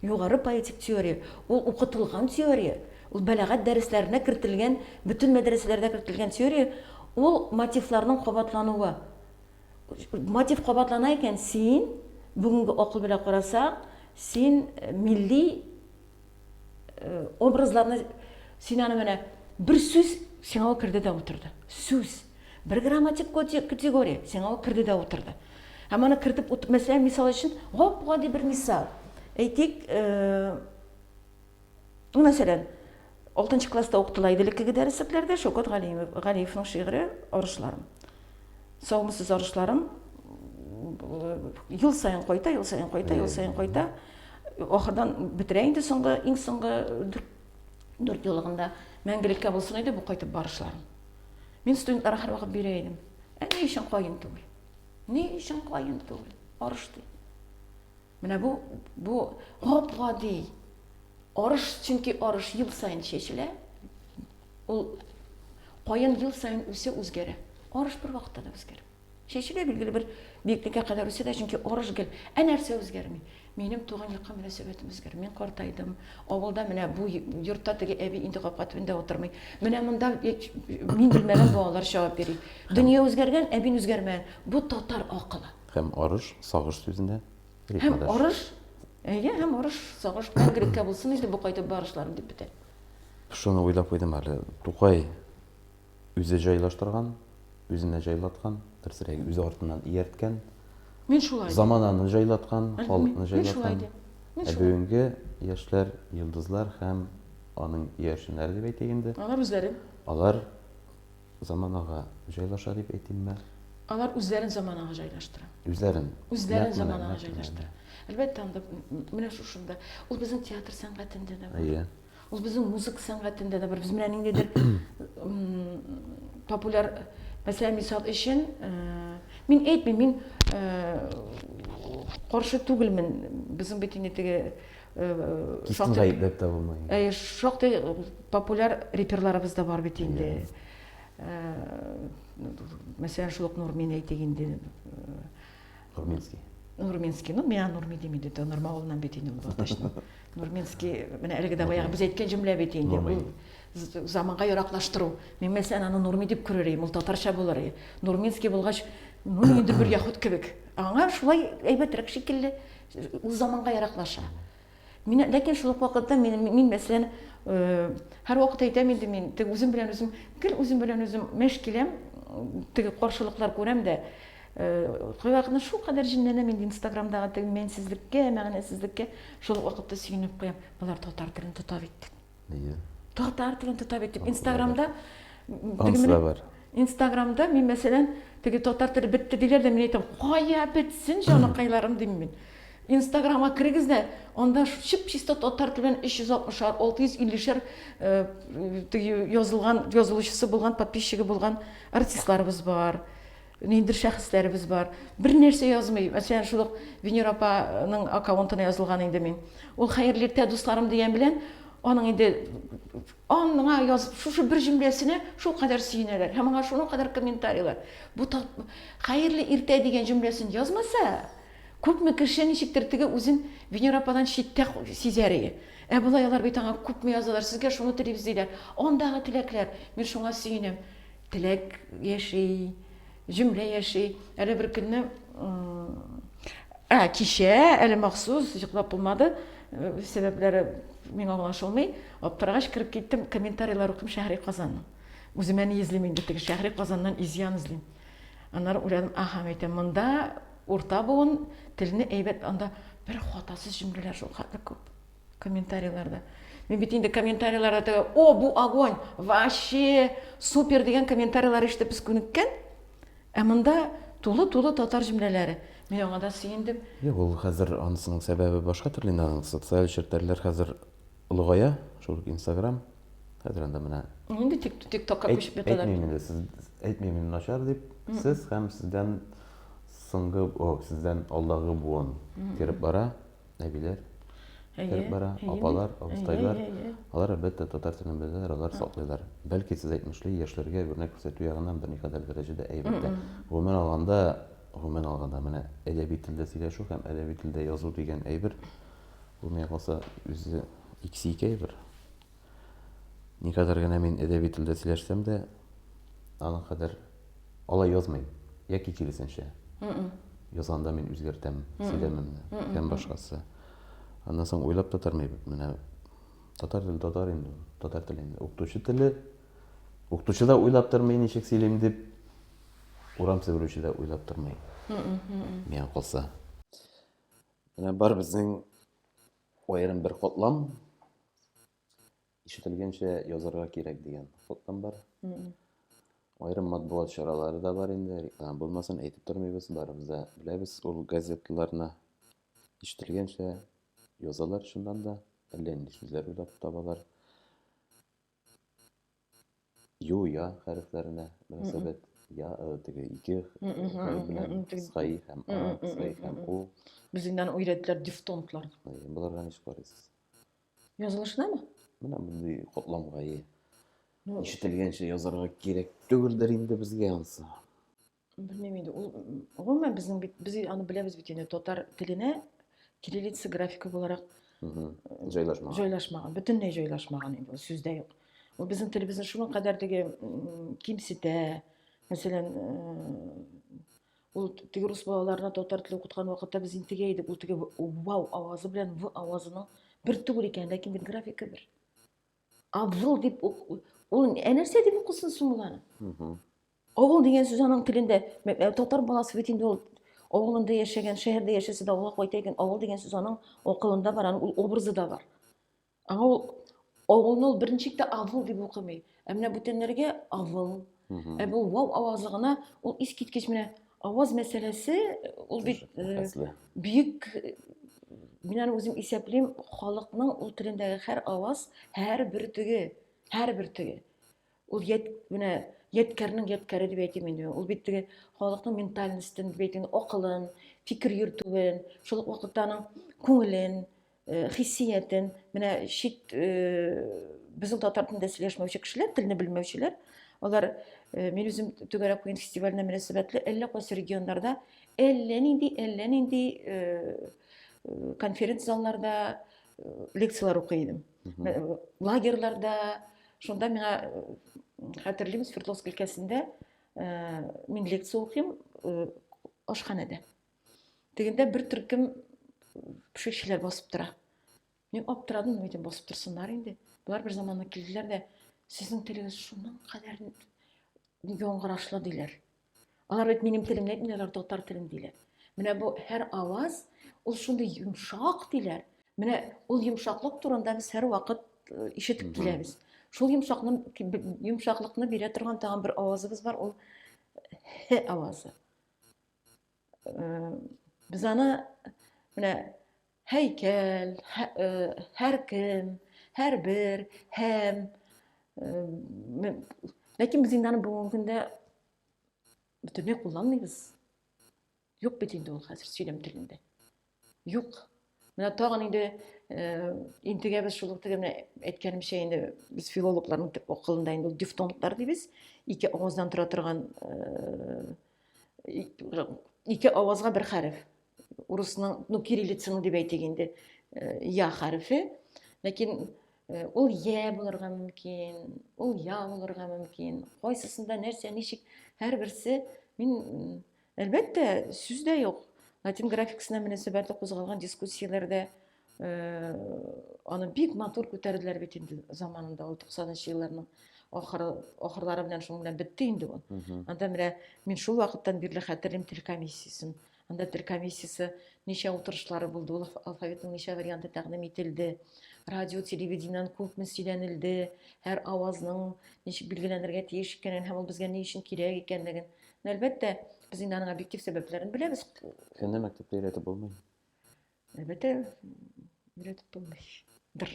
Югары поэтик теория, ул укытылган теория, ул бәләгать дәресләренә кертелгән, бөтен мәдрәсәләрдә кертелгән теория, ул мотивларның кабатлануы. Мотив кабатлана икән, син, бүгенге акыл белән карасаң, син милли образларны, син аны менә бер сүз сиңа керде дә утырды. Сүз. Бер грамматик коти категория, сиңа ул керде дә утырды. Һәм аны кертеп утып, мәсәлән, мисал өчен, гап-гади бер мисал. Әйтик, э, мәсәлән, 6 класста укытыла иде элеккеге дәреслекләрдә Шәүкәт Галиев, Галиевның шигыре Орышларым. Саумысыз орышларым ел саен кайта, ел саен кайта, ел саен кайта. Ахырдан бетерә инде соңгы, иң соңгы дүрт еллыгында мәңгелеккә булсын иде бу кайтып барышларым. Мин студентларга һәрвакыт бирә идем. Ә ни өчен каен түгел? Ни өчен каен түгел? Арыш ди. Менә бу бу гап-гади. Арыш, чөнки арыш ел саен чәчелә. Ул каен ел саен үсә, үзгәрә. Арыш бер вакытта да үзгәрә. Чәче дә билгеле бер биеклеккә кадәр үсә дә, чөнки арыш гел. Ә нәрсә үзгәрми? Минем туган якка мөнәсәбәтем үзгәр. Мин картайдым. Авылда менә бу йортта теге әби инде капка төбендә утырмый. Менә монда мин белмәгән балалар чагып йөри. Дөнья үзгәргән, ә мин үзгәрмәгән. Бу татар акылы. Һәм арыш, сагыш сүзенә рифмадаш. Һәм арыш, әйе, һәм арыш, сагыш мәңгелеккә булсын инде бу кайтып барышларым дип бетә. Шуны уйлап куйдым әле. Тукай Үзе җайлаштырган, үзенә җайлаткан, дөресрәге, үзе артыннан иярткән. Мин шулай. Замананы җайлаткан, халыкны җайлаткан. Ә бүгенге яшьләр, йолдызлар һәм аның иярченнәре дип әйтик инде. Алар үзләре. Алар заманага җайлаша дип әйтимме? Алар үзләрен заманага җайлаштыра. Үзләрен. Үзләрен заманага җайлаштыра. Әлбәттә, анда менә шушында. Ул безнең театр сәнгатендә дә бар. Әйе. Ул безнең музыка сәнгатендә дә бар. Без менә ниндидер популяр мәсәлән мисал өчен э, мин әйтмим, мин э, каршы түгелмен. Безнең бит инде теге э, шактый дип тә булмый. Шактый популяр реперларыбыз да бар бит инде. Мәсәлән, шул ук Нурмин әйтик инде. Нурминский. Нурминский, ну миңа Нурми дими диде, Нурма авылыннан бит инде ул Балтачның. Нурминский, менә әлеге дә баягы без әйткән җөмлә бит инде. Ул заманга яраклаштыру. Мин мәсәлән аны Нурми дип күрер идем, ул татарча булыр иде. Нурминский булгач, ну инде бер яхут кебек. Аңа шулай әйбәтрәк шикелле, ул заманга яраклаша. Мин, ләкин шул ук вакытта мин, мин мәсәлән, һәрвакыт әйтәм инде мин, теге үзем белән үзем, гел үзем белән үзем мәш киләм, теге каршылыклар күрәм дә, кайвакытны шул кадәр җенләнәм инде инстаграмдагы теге мәнсезлеккә, мәгънәсезлеккә, шул вакытта сөенеп куям, болар татар телен тота бит. Нигә? Татар телен тота бит дип, Инстаграмда Анысы да бар. Инстаграмда мин мәсәлән, теге татар теле бетте диләр дә, мин әйтәм, кая бетсен, җаныкайларым дим мин. Инстаграмга керегез дә, анда чып чисто татар телен 360-шар, 650-шар язылган, язылучысы булган, подписчигы булган артистларыбыз бар. Ниндидер шәхесләребез бар. Бернәрсә язмый. Мәсәлән, шул ук Венер апаның аккаунтына язылган инде мин. Ул хәерле иртә дусларым дигән белән аның инде аныңа яз шушы бер җөмләсенә шул кадәр сөенәләр һәм аңа шуның кадәр комментарийлар. Бу хәерле иртә дигән җөмләсен язмаса, күпме кеше ничектер теге үзен Венер ападан читтә сизәр ие. Ә болай алар бит аңа күпме язалар, сезгә шуны телибез диләр. Андагы теләкләр, мин шуңа сөенәм. Теләк яши, җөмлә яши. Әле бер көнне ә, кичә әле махсус йоклап булмады. Э, сәбәпләре миңа аңлашылмый. Аптырагач кереп киттем, комментарийлар укыйм Шәһри Казанның. Үземә ни эзлим инде теге Шәһри Казаннан изян эзлим. Аннары уйладым, аха, әйтәм, монда урта буын телне әйбәт, анда бер хатасыз җөмләләр шул хәтле күп. комментарийларда мин бит инде комментарийларда теге о бу огонь вообще супер дигән комментарийлар ишетеп без күнеккән ә монда тулы тулы татар җөмләләре мин аңа да сөендем юк ул хәзер анысының сәбәбе башка төрле инде аның социаль челтәрләр хәзер олыгая шул инстаграм хәзер анда менә инде тик тик токка күчеп яталар әйтмим инде сез әйтмим мин начар дип сез һәм сездән соңгы о сездән алдагы буын кереп бара әбиләр кереп бара, апалар, абыстайлар. Алар, әлбәттә, татар телен беләләр, алар саклыйлар. Бәлки, сез әйтмешли, яшьләргә үрнәк күрсәтү ягыннан берникадәр дәрәҗәдә әйбәт тә. Гомумән алганда, гомумән алганда, менә әдәби телдә сөйләшү һәм әдәби телдә язу дигән әйбер, бу, миңа калса, үзе икесе ике әйбер. Никадәр генә мин әдәби телдә сөйләшсәм дә, аның кадәр алай язмыйм. Яки киресенчә. Язганда мин үзгәртәм сөйләмемне һәм башкасы. Аннан соң уйлап та тормыйм. Менә татар теле татар инде, татар теле инде. Укытучы теле укытучы да уйлап тормый ничек сөйлим дип, урам себерүче дә уйлап тормый. Миңа калса. Менә бар безнең Аерым бер котлам ишетелгәнчә язарга кирәк дигән котлам бар. Аерым матбугат чаралары да бар инде. Реклама булмасын, әйтеп тормыйбыз, барыбыз да беләбез. Ул газетларны ишетелгәнчә язалар, шуннан да әллә нинди сүзләр уйлап табалар. Ю, я хәрефләренә мөнәсәбәт. Я, э, теге ике хәреф белән кыскай һәм а, кыскай һәм у. Бездән өйрәттеләр дифтонглар. Боларга ничек карыйсыз? Язылышынамы? Менә мондый котламгае. Ишетелгәнчә язарга кирәк түгелдер инде безгә ансы. белмим инде ул гомумән безнең бит без аны беләбез бит инде татар теленә кириллица графика буларак җайлашмаган җайлашмаган бөтенләй җайлашмаган инде ул сүздә юк ул безнең телебезне шуңа кадәр теге кимсетә мәсәлән ул теге рус балаларына татар теле укыткан вакытта без интегә идек ул теге вау авазы белән в авазының бер түгел икән ләкин бит графика бер Абзул дип ул ә нәрсә дип укысын соң ул аны? Авыл дигән сүз аның телендә татар баласы бит инде ул авылында яшәгән, шәһәрдә яшәсә дә авылга кайта икән, авыл дигән сүз аның акылында бар, аның ул образы да бар. Аңа ул авылны ул беренче тә авыл дип укымый. Ә менә бүтәннәргә авыл. Ә бу вау авазы гына ул искиткеч менә Аваз мәсьәләсе ул бит э, бөек мин аны үзем исәплим, халыкның ул телендәге һәр аваз, һәр бөртеге, һәр бөртеге. Ул ят, менә яткәрнең яткәре дип әйтим инде. Ул бит теге халыкның ментальностен дип әйтим, акылын, фикер йөртүен, шул ук вакытта аның күңелен, Э, хиссиятен менә чит э, безнең татар телендә сөйләшмәүче кешеләр телне белмәүчеләр алар э, мин үзем түгәрәк куен фестиваленә мөнәсәбәтле әллә кайсы регионнарда әллә нинди әллә нинди конференц залларда лекцияләр укый идем лагерьларда шунда миңа хәтерлим свердловск өлкәсендә мин лекция укыйм ашханәдә Тегендә бер төркем пешекчеләр басып тора. Мин аптырадым, әйтем, басып торсыннар инде. Болар бер заманны килделәр дә, сезнең телегез шуның кадәр яңгырашлы диләр. Алар бит минем телемне әйтмиләр, алар татар телен диләр. Менә бу һәр аваз ул шундый йомшак диләр. Менә ул йомшаклык турында без һәр вакыт э, ишетеп киләбез. Шул йомшакны йомшаклыкны бирә торган тагын бер авазыбыз бар, ул һ авазы. Без аны менә һәйкәл, һәркем, һәрбер, һәм ләкин без инде аны бүгенге көндә бөтенләй кулланмыйбыз. Юк бит инде ул хәзер сөйләм телендә. Юк. Менә тагын инде э, интегәбез шул теге менә әйткәнемчә инде без филологларның төп акылында инде ул дифтонглар дибез. Ике аваздан тора торган э, ике авазга бер хәреф. Урысның, ну кириллицаның дип әйтик инде, э, я хәрефе. Ләкин ул я булырга мөмкин, ул я булырга мөмкин. Кайсысында нәрсә, ничек, һәрберсе мин Әлбәттә, сүз дә юк. Латин графикасына мөнәсәбәтле кузгалган дискуссияләрдә э, аны бик матур күтәрделәр бит инде заманында, ул 90-нчы елларның ахыры, ахырлары белән шуның белән бетте инде ул. Анда менә мин шул вакыттан бирле хәтерлим тел комиссиясен. Анда тел комиссиясе ничә утырышлары булды, ул алфавитның ничә варианты тәкъдим ителде, радио, телевидениедән күпме сөйләнелде, һәр авазның ничек билгеләнергә тиеш икәнен һәм ул безгә ни өчен кирәк икәнлеген Әлбәттә, без инде аның объектив сәбәпләрен беләбез. Көнне мәктәптә өйрәтеп булмый. Әлбәттә, өйрәтеп булмый. Дыр.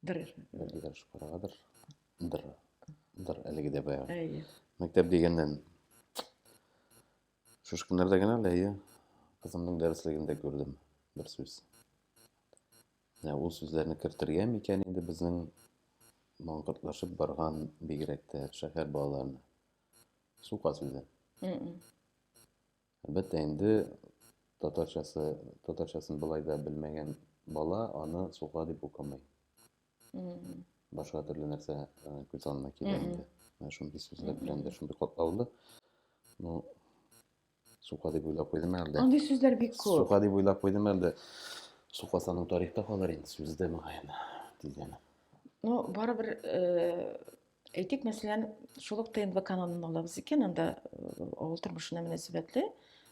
Дыр. Әлеге дә шукарадыр. Дыр. Дыр. Әлеге дә бая. Әйе. Мәктәп дигәннән. Шушы көннәрдә генә әле әйе. Кызымның дәреслегендә күрдем бер сүз. Ә ул сүзләрне кертергә микән инде безнең маңгыртлашып барган бигрәк тә шәһәр балаларына. Су каз үзе. Әлбәттә инде татарчасы, татарчасын былай да белмәгән бала аны сука дип укымый. Башка төрле нәрсә күз алдына килә инде. Менә шундый сүзләр белән дә шундый катлаулы. Ну, Сука дип уйлап куйдым әлдә. Андый сүзләр бик күп. Сука дип уйлап куйдым әлдә. Сука саның тарихта калыр инде сүзе дә мөгаен тиздән. Ну, барыбер э, әйтик, мәсәлән, шул ук ТНВ каналын алабыз икән, анда э, авыл тормышына мөнәсәбәтле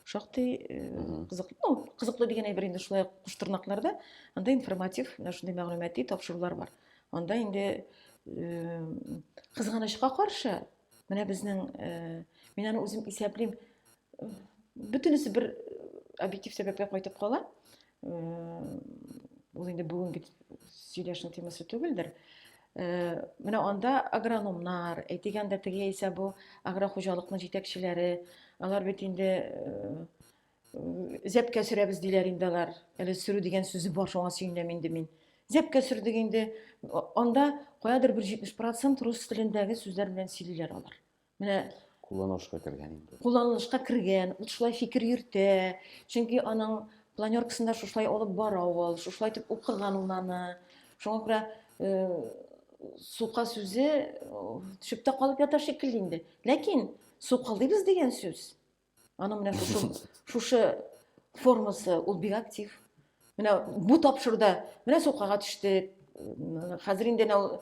шактый э, кызыклы, ну, кызыклы дигән әйбер инде шулай куштырнакларда анда информатив, менә шундый мәгълүмати тапшырулар бар. Анда инде э, кызганычка каршы, Менә безнең, э, мин аны үзем исәплим, э, бөтенесе бер объектив сәбәпкә кайтып кала. Э, ул инде бүгенге сөйләшү темасы түгелдер. Менә анда агрономнар, әйтегәндә теге яисә бу агрохуҗалыкның җитәкчеләре, алар бит инде Зәпкә сөрәбез диләр инде алар. Әле сөрү дигән сүзе бар, шуңа сөенәм инде мин. Зәпкә сөрдек инде. Анда каядыр бер 70% рус телендәге сүзләр белән сөйлиләр алар. Менә кулланылышка кергән инде. Кулланылышка кергән, ул шулай фикер йөртә. Чөнки аның планеркасында шушылай алып бара ул, шушылай итеп укыган ул аны. Шуңа күрә э, сука сүзе э, төшеп тә калып ята шикелле инде. Ләкин сукалыйбыз дигән сүз Аның менә шушы, шушы формасы, ул бик актив. Менә бу тапшыруда, менә сукага төштек. Хәзер инде нәү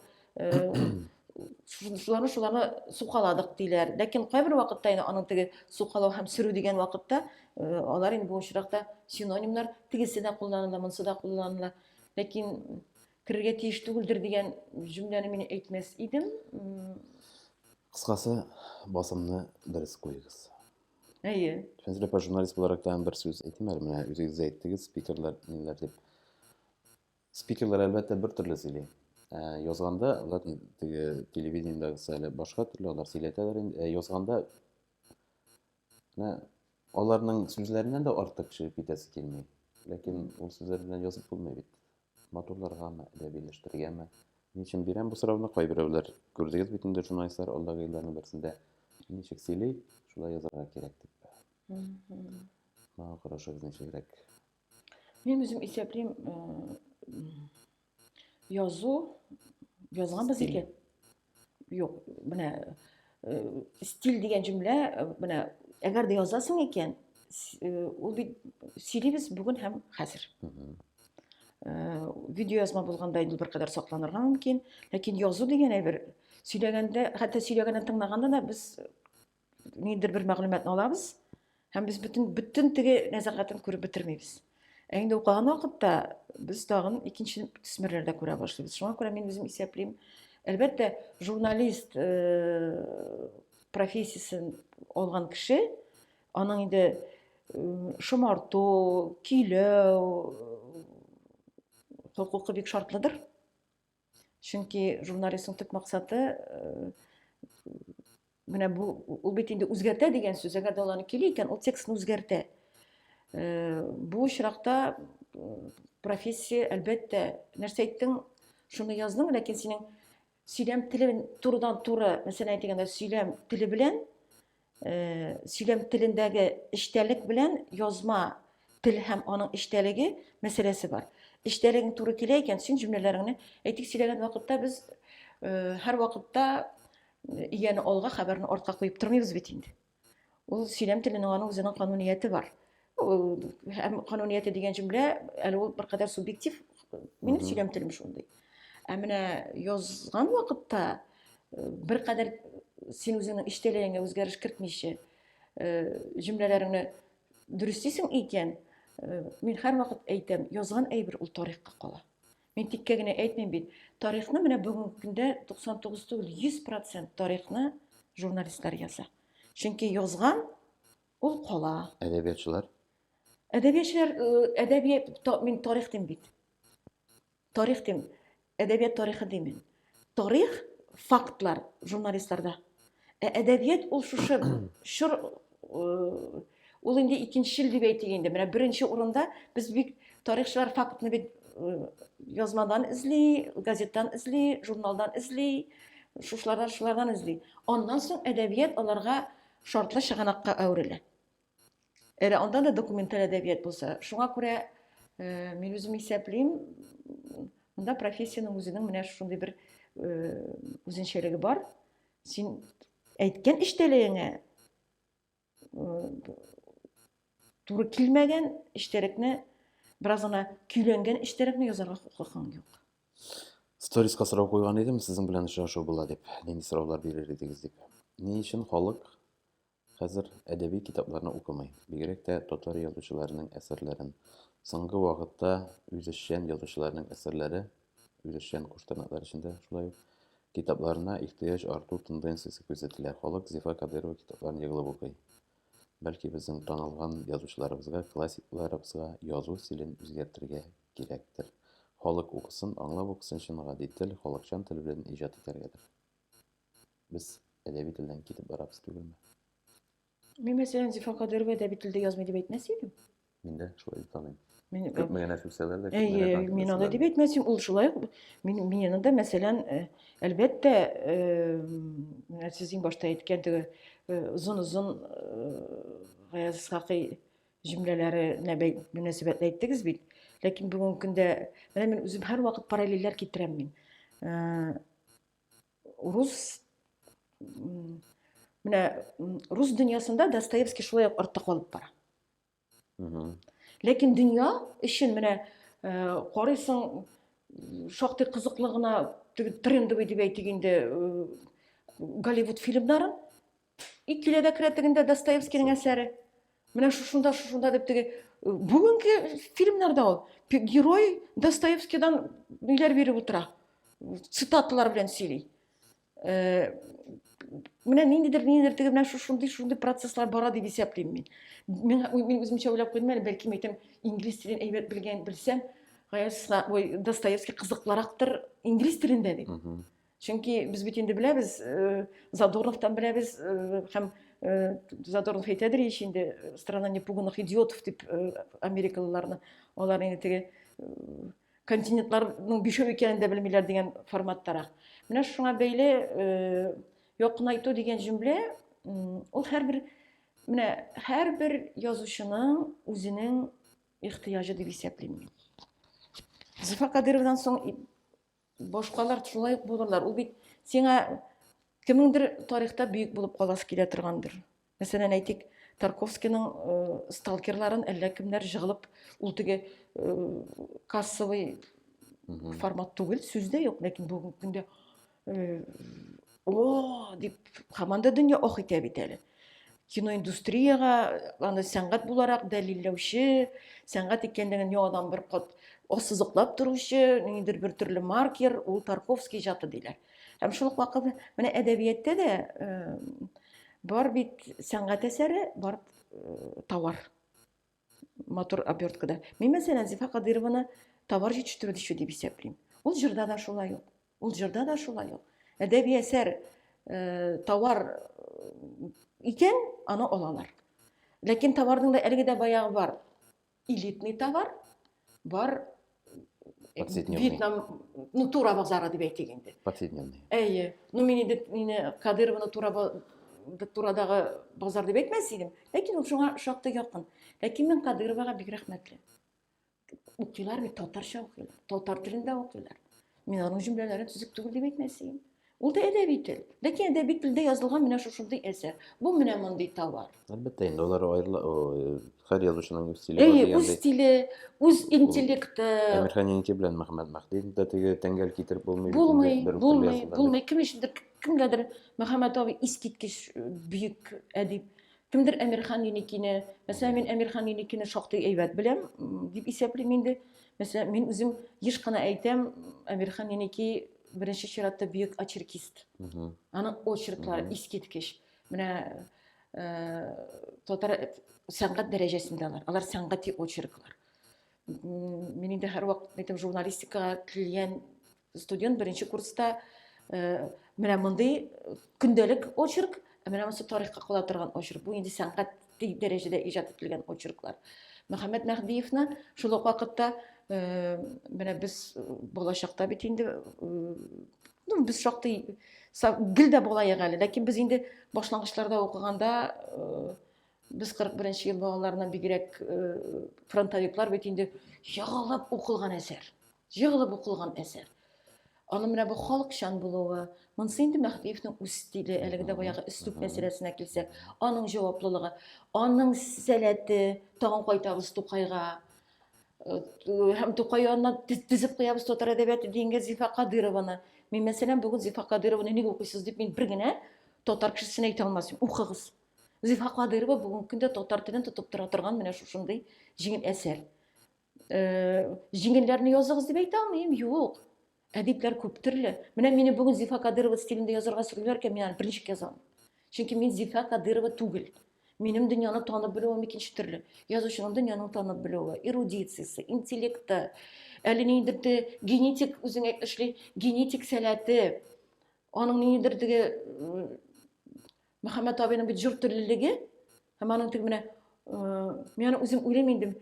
шуларны шуларны сукаладык диләр. Ләкин кайбер вакытта инде аның теге сукалау һәм сөрү дигән вакытта алар инде бу очракта синонимнар тегесе дә кулланыла, монсы да кулланыла. Ләкин Керергә тиеш түгелдер дигән җөмләне мин әйтмәс идем. Кыскасы, басымны дөрес куегыз. Әйе. Фәнзилә апа, журналист буларак тагын бер сүз әйтим әле. Менә үзегез дә әйттегез, спикерлар ниләр дип. Спикерлар, әлбәттә, бер төрле сөйли. Ә, язганда, алар теге телевидениедәгесе әле башка төрле, алар сөйләтәләр инде. Ә язганда Менә аларның сүзләреннән дә артык төшереп китәсе килми. Ләкин ул сүзләр белән язып булмый бит. Матурларгамы, әдәбиләштергәме? Ни өчен бирәм бу сорауны? Кайберәүләр күрдегез бит инде журналистлар алдагы елларның берсендә ничек сөйли, шулай язарга кирәк дип. Моңа карашыгыз ничегрәк? Мин үзем исәплим язу язганбыз икән. Юк, менә стиль дигән җөмлә, менә әгәр дә язасың икән, ул бит сөйлибез бүген һәм хәзер. Видео язма булганда инде беркадәр сакланырга мөмкин, ләкин язу дигән әйбер сөйләгәндә, хәтта сөйләгәндә тыңлаганда да без ниндидер бер мәгълүматны алабыз һәм без бөтен бөтен теге нәзәгатен күреп бетермибез ә инде укыган вакытта без тагын икенче төсмерләр дә күрә башлыйбыз шуңа күрә мин үзем исәплим әлбәттә журналист э, профессиясен алган кеше аның инде э, шомарту көйләү э, хокукы бик шартлыдыр чөнки журналистның төп максаты э, менә бу ул бит инде үзгәртә дигән сүз әгәр дә ул аны кили икән ул текстны үзгәртә э, бу очракта профессия әлбәттә нәрсә әйттең шуны яздың ләкин синең сөйләм теле турыдан туры мәсәлән әйтегәндә сөйләм теле белән сөйләм телендәге эчтәлек белән язма тел һәм аның эчтәлеге мәсьәләсе бар. Эчтәлегең туры килә икән, син җөмләләреңне әйтик сөйләгән вакытта без э, һәр вакытта э, ияне алга, хәбәрне артка куеп тормыйбыз бит инде. Ул сөйләм теленең аның үзенең канунияте бар. һәм канунияте дигән җөмлә әле ул беркадәр субъектив минем сөйләм телем шундый ә менә язган вакытта беркадәр син үзеңнең эчтәлегеңә үзгәреш кертмичә җөмләләреңне дөрестисең икән мин һәрвакыт әйтәм язган әйбер ул тарихка кала мин тиккә генә әйтмим бит тарихны менә бүгенге көндә туксан тугыз түгел йөз процент тарихны журналистлар яза чөнки язган Ул кала. Әдәбиятчылар? Әдәбиятчылар, әдәбият, мин тарих дим бит. Тарих дим. Әдәбият тарихы димин. Тарих, фактлар журналистларда. Ә әдәбият ул шушы чор ул инде икенчел дип әйтик инде. Менә беренче урында без бик тарихчылар фактны бит язмадан эзли, газеттан эзли, журналдан эзли, шушлардан шулардан эзли. Аннан соң әдәбият аларга шартлы чыганакка әверелә. Әле анда да документаль әдәбият булса. Шуңа күрә э, мин үзем исәплим, монда профессиянең үзенең менә шундый бер э, үзенчәлеге бар. Син әйткән эчтәлегеңә э, туры килмәгән эчтәлекне бераз гына көйләнгән эчтәлекне язарга хокукың юк сториска сорау куйган идем сезнең белән очрашу була дип нинди сораулар бирер идегез дип ни өчен халык хәзер әдәби китапларны укымый бигрәк тә татар язучыларының әсәрләрен соңгы вакытта үзешчән язучыларның әсәрләре үзешчән куштырнаклар эчендә шулай ук китапларына ихтыяҗ арту тенденциясе күзәтелә халык зифа кадырова китапларын егылып укый Бәлки безнең танылган язучыларыбызга, классикларыбызга язу стилен үзгәртергә кирәктер. Халык укысын, аңлап укысын өчен гади тел, халыкчан тел белән иҗат итәргәдер. Без әдәби телдән китеп барабыз түгелме? Мин мәсәлән Зифа Кадыйрова әдәби телдә язмый дип әйтмәс идем. Мин дә шулай дип таныйм. Мин күпме генә сүксәләр дә, күпме генә танкет Мин аны дип әйтмәсем, ул шулай ук мин мине дә мәсәлән, әлбәттә, менә сез иң башта әйткән теге озын-озын Гаяз Исхакый җөмләләренә мөнәсәбәтле әйттегез бит. Ләкин бүгенге көндә менә мин үзем һәрвакыт параллельләр китерәм мин. Урыс менә рус дөньясында Достоевский шулай ук артта калып бара. ләкин дөнья өчен менә э, карыйсың шактый кызыклы гына трендовый дип әйтик инде э, голливуд фильмнарын и киләдә керә тегендә достоевскийның әсәре менә шушында шушында дип теге э, бүгенге фильмнарда ул герой достоевскийдан ниләр биреп утыра цитаталар белән сөйли Э, менә ниндидер ниндидер теге менә шушындый шушындый процесслар бара дип исәплим мин мин мин үземчә уйлап куйдым әле бәлки әйтәм инглиз телен әйбәт белгән белсәм ой достоевский кызыклырактыр инглиз телендә дип чөнки без бит инде беләбез э, задорновтан беләбез э, һәм задорнов әйтәдер ич инде страна непуганных идиотов дип америкалыларны алар инде теге континентларның бишәү икәнен дә белмиләр дигән форматтарак. Менә шуңа бәйле э, якынайту дигән җөмлә ул һәрбер менә һәрбер язучының үзенең ихтыяҗы дип исәплим мин. Зифа Кадыровадан соң башкалар шулай ук булырлар. Ул бит сиңа кемеңдер тарихта бөек булып каласы килә торгандыр. Мәсәлән, әйтик, Тарковскийның сталкерларын әллә кемнәр җыгылып, ул теге кассовый формат түгел, сүз дә юк, ләкин бүгенге көндә о дип команда дөнья ох итә бит әле киноиндустрияга аны сәнгать буларак дәлилләүче сәнгать икәнлеген яңадан бер кат ассызыклап торучы ниндидер бер төрле маркер ул тарковский иҗаты диләр Һәм шул ук вакыт менә әдәбиятта да бар бит сәнгать әсәре, бар товар. Матур оберткада. Мин мәсәлән Зифа Кадырованы товар җитештерү дишу дип исәплим. Ул җырда да шулай ук. Ул җырда да шулай ук. Әдәби әсәр товар икән, аны алалар. Ләкин товарның да әлеге дә баягы бар. элитный товар бар вьетнам ну тура базары дип әйтик инде повседневный әйе ну мин инде мені кадырованы тура турадагы базар дип әйтмәс идем ләкин ул шуңа шактый якын ләкин мин кадыровага бик рәхмәтле укыйлар бит татарча укыйлар татар телендә укыйлар мин аның җөмләләрен төзек түгел дип әйтмәс идем Ул да әдәби тел. Ләкин әдәби телдә язылган менә шушындый әсәр. Бу менә мондый товар. Әлбәттә, инде алар аерыла, һәр язучының үз стиле бар дигәндәй. Үз стиле, үз интеллекты. Әмирханинки белән Мөхәммәд Мәһдиев дә теге тәңгәл китереп булмый. Булмый, булмый, булмый. Кем өчендер кемгәдер Мөхәммәд абый искиткеч бөек әдип. Кемдер Әмирхан Юникине, мәсәлән, мин Әмирхан Юникине шактый әйбәт беләм, дип исәплим инде. Мәсәлән, мин үзем еш кына әйтәм, Әмирхан Юники Беренче чиратта бөек очеркист. Аның очерклары искиткеч. Менә э, татар сәнгать дәрәҗәсендә алар. Алар сәнгати очерклар. Мин инде һәрвакыт әйтәм, журналистикага килгән студент беренче курста э, менә мондый көндәлек очерк, ә менә монысы тарихка кала торган очерк. Бу инде сәнгать тиң дәрәҗәдә иҗат ителгән очерклар. Мөхәммәд Мәһдиевны шул ук вакытта э, менә без э, балачакта бит инде э, ну без шактый гел дә балаек әле, ләкин без инде башлангычларда укыганда без 41 ел балаларыннан бигрәк фронтовиклар бит инде егылып укылган әсәр. Егылып укылган әсәр. Аны менә бу халыкчан булуы, монысы инде Мәһдиевнең үз стиле, әлеге дә баягы өслүп мәсьәләсенә килсәк, аның җаваплылыгы, аның сәләте, тагын кайтабыз Тукайга, э, һәм Тукай янына тезеп куябыз татар әдәбияты дигәнгә Зифа Кадырованы. Мин, мәсәлән, бүген Зифа Кадырованы ник укыйсыз дип, мин бер генә татар кешесенә әйтә алмасын. Укыгыз. Зифа Кадырова бүгенге көндә татар телен тотып тора торган менә шушындый җиңел әсәр. җиңелләрне языгыз дип әйтә алмыйм юк әдипләр күп төрле менә мине бүген зифа кадырова стилендә язарга сорыйлар икән мин аны берничек язам чөнки мин зифа кадырова түгел минем дөньяны танып белүем икенче төрле язучының дөньяны танып белүе эрудициясе интеллекты әле ниндидер де генетик үзең әйтмешли генетик сәләте аның ниндидер теге Мөхәммәт абыйның бит җор теллелеге һәм аның теге менә мин аны үзем уйлыйм инде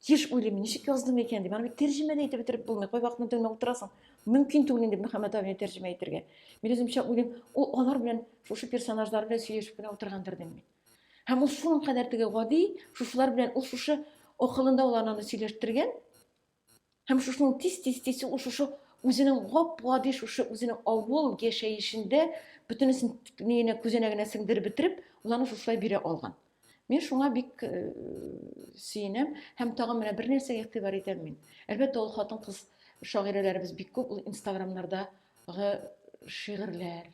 тиеш уйлыйм ничек яздым икән дип аны бит тәрҗемә дә итеп бетереп булмый кай вакытны тыңлап утырасың мөмкин түгел инде мөхәммәт абыйны тәрҗемә итәргә мин үземчә уйлыйм ул алар белән шушы персонажлар белән сөйләшеп кенә утыргандыр дим мин һәм ул шуның кадәр теге гади шушылар белән ул шушы акылында ул ананы сөйләштергән Һәм шушының тиз-тиз-тиз шушы үзенең гап-гади шушы үзенең авыл яшәешендә бөтенесен нигенә күзәнәгенә сеңдереп бетереп, ул аны шушылай бирә алган. Мин шуңа бик э, сөенәм һәм тагын менә бер нәрсәгә игътибар итәм мин. Әлбәттә, ул хатын-кыз шагыйрәләребез бик күп, ул инстаграмнардагы шигырьләр,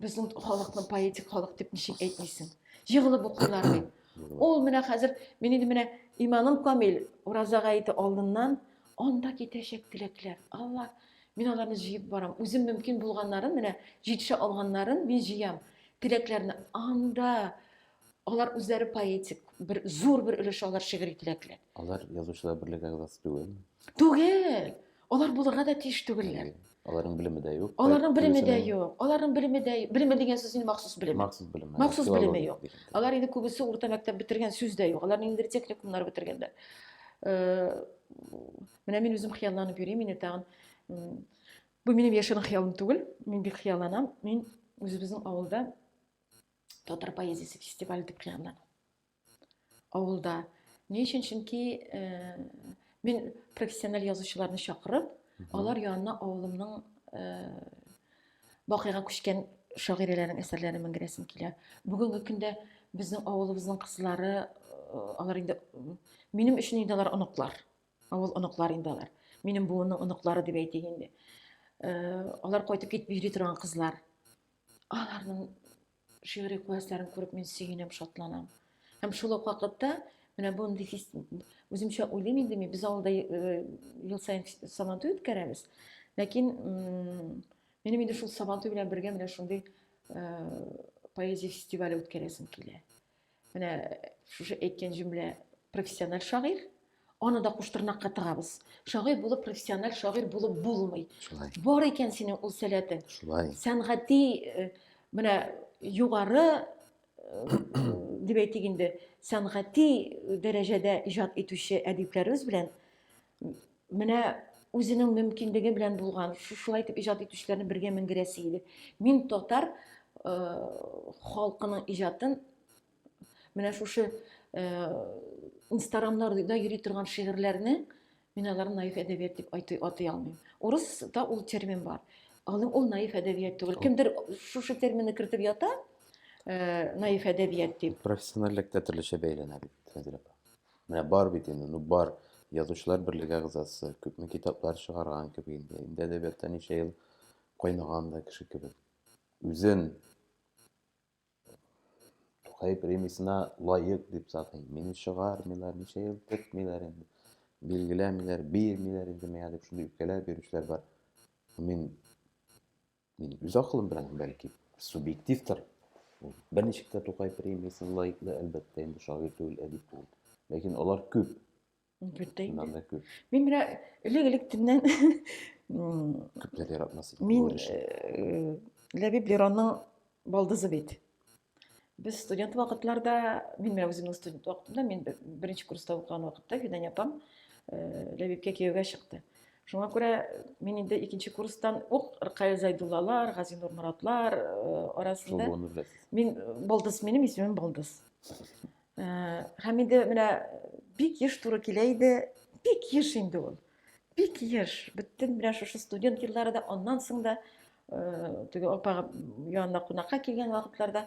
Безнең халыкны поэтик халык дип ничек әйтмисең? Егылып укыйлар бит. Ул менә хәзер мин инде менә иманым камил ураза гаете алдыннан анда китәчәк теләкләр. Алла, мин аларны җыеп барам. Үзем мөмкин булганнарын, менә җитешә алганнарын мин җыям. Теләкләрне анда Алар үзләре поэтик, бер зур бер өлеше алар шигъри теләкләр. Алар язучылар берлеге әгъзасы түгел. Түгел. Алар булырга да тиеш түгелләр. Аларның белеме дә юк. Аларның белеме дә юк. Аларның белеме дә юк. Белеме дигән сүз инде махсус белем. Махсус белем. Махсус белеме юк. Алар инде күбесе урта мәктәп бетергән сүз дә юк. Алар инде техникумнар бетергәннәр. Э, менә мин үзем хыялланып йөрим, мин тагын бу минем яшерен хыялым түгел. Мин бик хыялланам. Мин үзебезнең авылда татар поэзиясе фестивале дип кыйганнар авылда ни өчен чөнки ә, э, мин профессиональ язучыларны чакырып алар янына авылымның ә, бакыйга күчкән шагыйрәләрнең әсәрләрен менгерәсем килә бүгенге көндә безнең авылыбызның кызлары э, алар инде минем өчен инде алар оныклар авыл оныклар инде алар минем буынның оныклары дип әйтик инде э, алар кайтып китеп йөри торган кызлар Аларның шигъри куәтләрен күреп мин сөенәм, шатланам. Һәм шул ук вакытта менә бундый фест... үземчә уйлыйм инде мин, без авылда э, ел саен сабантуй үткәрәбез. Ләкин минем инде шул сабантуй белән бергә менә шундый э, поэзия фестивале үткәрәсем килә. Менә шушы әйткән җөмлә профессиональ шагыйрь, аны да куштырнакка тыгабыз. Шагыйрь булып профессиональ шагыйрь булып булмый. Шулай. Бар икән синең ул сәләтең. Шулай. Сәнгати э, менә югары э, дип әйтик инде, сәнгати дәрәҗәдә иҗат итүче әдипләребез белән менә үзенең мөмкинлеге белән булган шулай итеп иҗат итүчеләрне бергә мендерәсе иде мин татар э, халкының иҗатын менә шушы э, инстаграмнарда йөри торган шигырьләрне мин аларны наив әдәбият дип атый алмыйм урыста ул термин бар аны ул наив әдәбият түгел кемдер шушы терминны кертеп ята э, наив әдәбият дип профессиональлек тә төрлечә бәйләнә бит Менә бар бит инде, ну бар. Язучылар берлеге әгъзасы, күпме китаплар чыгарган кебек инде. Инде әдәбиятта ничә ел кайнаган да кеше кебек. Үзен Тукай премиясенә лаек дип сатый. Мине чыгармыйлар, ничә ел көтмиләр инде. Билгеләмиләр, бирмиләр инде миңа дип шундый үпкәләр бирүчеләр бар. Мин Мин үз акылым белән, бәлки, субъективтор. Берничек тә Тукай премиясен лаеклы, әлбәттә, инде шагыйрь түгел, әдип түгел. Ләкин алар күп. Бөтә инде. Да күп. Мин менә элек-электеннән күпләр яратмас иде. Мин э, Ләбиб Леронның балдызы бит. Без студент вакытларда, мин менә үземнең студент вакытымда, мин беренче курста укыган вакытта Фидания апам э, Ләбибкә кияүгә чыкты. Шуңа күрә мин инде икенче курстан ук Ркая Зайдуллалар, Газинур Моратлар э, арасында. Мин Балдыз, минем исемем Балдыз. Һәм инде менә бик еш туры килә иде, бик еш инде ул. Бик еш, бөтен менә шушы студент еллары да, аннан соң да, теге апага янына кунакка килгән вакытларда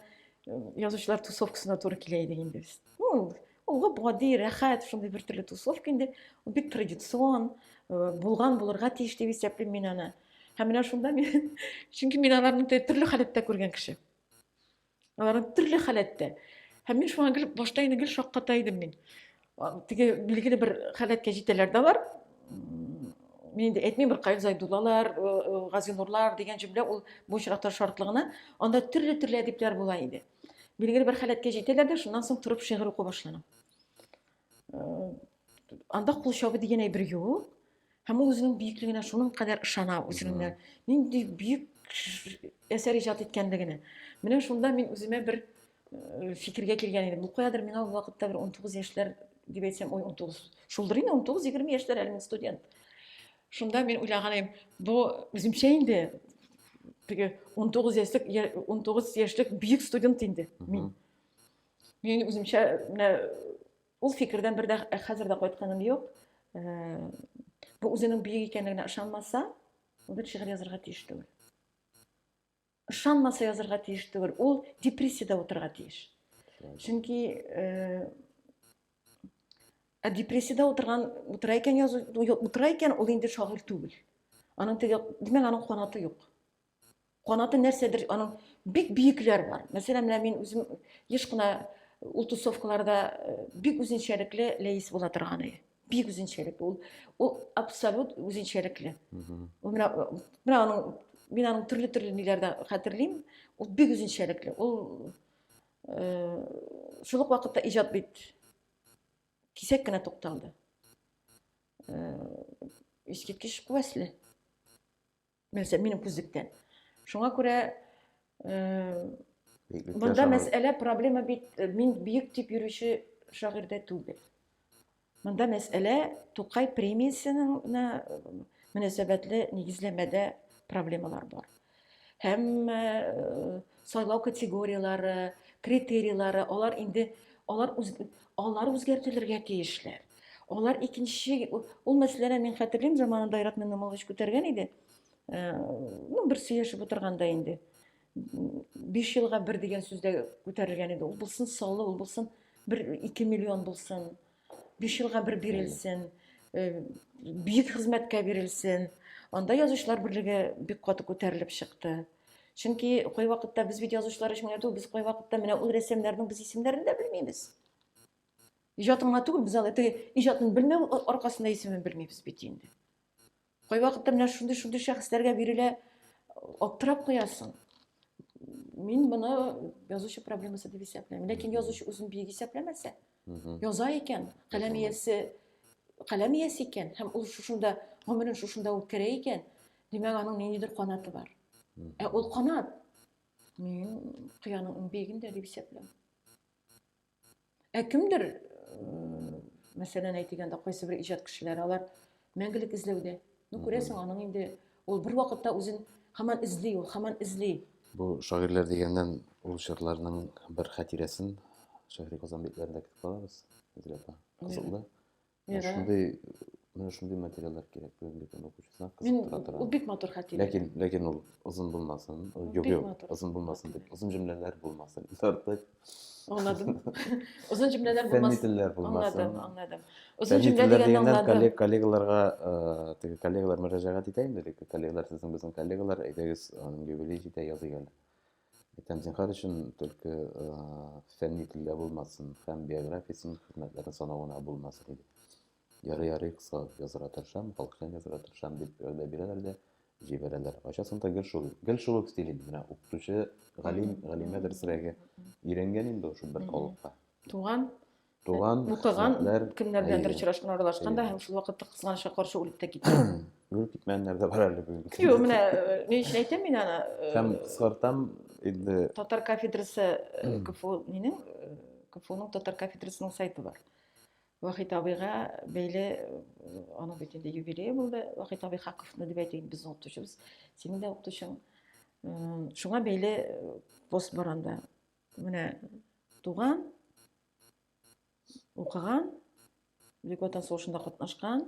язучылар тусовкасына туры килә иде инде без. Ну, ул гади, рәхәт, шундый бер төрле тусовка инде. Ул бик традицион, булган булырга тиеш дип исәплим мин аны. Һәм менә шунда мин, чөнки мин аларны төрле халәттә күргән кеше. Алар төрле халәттә. Һәм мин шуңа гел башта инде гел шакката идем мин. Теге билгеле бер халәткә җитәләр дә алар. Мин инде әйтмим бер Каил Зайдуллалар, э, э, Газинурлар дигән җөмлә ул бу очракта шартлыгына, анда төрле-төрле әдипләр була иде. Билгеле бер халәткә җитәләр дә, шуннан соң торып шигырь уку башлана. Э, анда кул чабы дигән әйбер юк. Һәм ул үзенең бөеклегенә шуның кадәр ышана, үзенең нинди бөек әсәр иҗат иткәнлегенә. Менә шунда мин үземә бер э, фикергә килгән идем. Бу каядыр миңа ул вакытта бер 19 яшьләр дип әйтсәм, ой, 19. Шулдыр инде 19-20 яшьләр әле мин студент. Шунда мин уйлаган идем, бу үземчә инде теге 19 яшьлек 19 яшьлек бөек студент инде мин. Мин үземчә менә Ул фикердән бер дә хәзер дә кайтканым юк. Бу үзенең бөек икәнлегенә ышанмаса, ул бит шигырь язарга тиеш түгел. Ышанмаса язарга тиеш түгел. Ул депрессиядә утырырга тиеш. Чөнки Ә депрессияда отырган утыра икән язу утыра икән ул инде шагыйрь түгел. Аның теге димәк аның канаты юк. Канаты нәрсәдер аның бик биекләр бар. Мәсәлән, менә мин үзем еш кына ул тусовкаларда э, бик үзенчәлекле ләис була торган иде. Бик үзенчәлекле ул. Ул абсолют үзенчәлекле. Ул менә э, менә аның мин аның төрле-төрле ниләрдә хәтерлим. Ул бик үзенчәлекле. Ул э, шул ук вакытта иҗат бит кисәк кенә тукталды. Искиткеч куәсле. нәрсә минем күзлектән шуңа күрә монда мәсьәлә проблема бит э, мин биек дип йөрүче шагыйрьдә түгел монда мәсьәлә тукай премиясенең мөнәсәбәтле нигезләмәдә проблемалар бар һәм э, Сайлау категорияләре, критерийлары, алар инде алар үз, алар үзгәртелергә тиешләр. Алар икенче ул мәсьәләне мин хәтерлим заманында Айрат Миннамулович күтәргән иде. Э, ну, бер сөйләшеп утырганда инде. 5 елга бер дигән сүздә күтәрелгән иде. Ул булсын саллы, ул булсын бер 2 миллион булсын. биш елга бер бирелсен, бөек хезмәткә бирелсен. Анда язучылар берлеге бик каты күтәрелеп чыкты. Чөнки кой вакытта без бит язучылар өчен генә без кой вакытта менә ул рәссамнарның без исемнәрен дә белмибез. Иҗатын гына түгел, без аны теге иҗатын белмәү аркасында исемен белмибез бит инде. Кайвакытта менә шундый-шундый шәхесләргә бирелә, аптырап куясың. Мин моны язучы проблемасы дип исәпләмим. Ләкин язучы үзен биек исәпләмәсә, яза икән, каләм иясе каләм иясе икән һәм ул шушында гомерен шушында үткәрә икән, димәк, аның ниндидер канаты бар. Ә ул канат мин кыяның иң биегендә дип исәпләм. Ә кемдер, мәсәлән, әйтик анда кайсы бер иҗат кешеләре, алар мәңгелек эзләүдә. Ну, күрәсең, аның инде ул бер вакытта үзен хаман эзли, ул хаман эзли. Бу шагыйрьләр дигәннән ул чорларның бер хатирәсен шәһри Казан битләрендә көтеп калабыз. Зиләпа, кызыклы. Менә шундый менә шундый материаллар кирәк бүгенге көн укучысына кызыктыра тора. Ул бик матур хәтирә. Ләкин ләкин ул озын булмасын. Юк, юк, озын булмасын дип. Озын җөмләләр булмасын. Артык. Аңладым. Озын җөмләләр булмасын. Фәнни булмасын. Аңладым, аңладым. Озын җөмлә дигәнне аңладым. Коллегаларга, э, теге коллегалар мөрәҗәгать итә инде, коллегалар сезнең безнең коллегалар, әйдәгез, юбилей җитә, языйгыз. Әйтәм, зинһар өчен төлке фәнни телдә булмасын һәм биографиясен, хезмәтләрен санау гына булмасын иде. Ярый, ярый, кыска язырга тырышам, халыкчан язырга тырышам дип вәгъдә бирәләр дә җибәрәләр. Кайчасын да гел шул, гел шул ук стиль инде. Менә укытучы, галим, галимә дөресрәге өйрәнгән инде шул бер халыкка. Туган Туган, укыган хезмәтләр, кемнәр беләндер әйе. очрашкан, аралашкан да Әйе. һәм шул вакытта кызганычка каршы үлеп тә киткән. Үлеп китмәгәннәр дә бар әле бүгенге көндә. Юк, менә э, ни өчен әйтәм мин аны? э, Һәм кыскартам инде Татар кафедрасы э, КФУ нинең э, КФУның татар кафедрасының сайты бар. Вахит абыйга бәйле э, аның бит инде юбилее булды. Вахит абый Хаковны дип әйтик, безнең укытучыбыз, синең дә укытучың. М, Шуңа бәйле э, пост бар анда. Менә туган, укыган, Бөек Ватан сугышында катнашкан,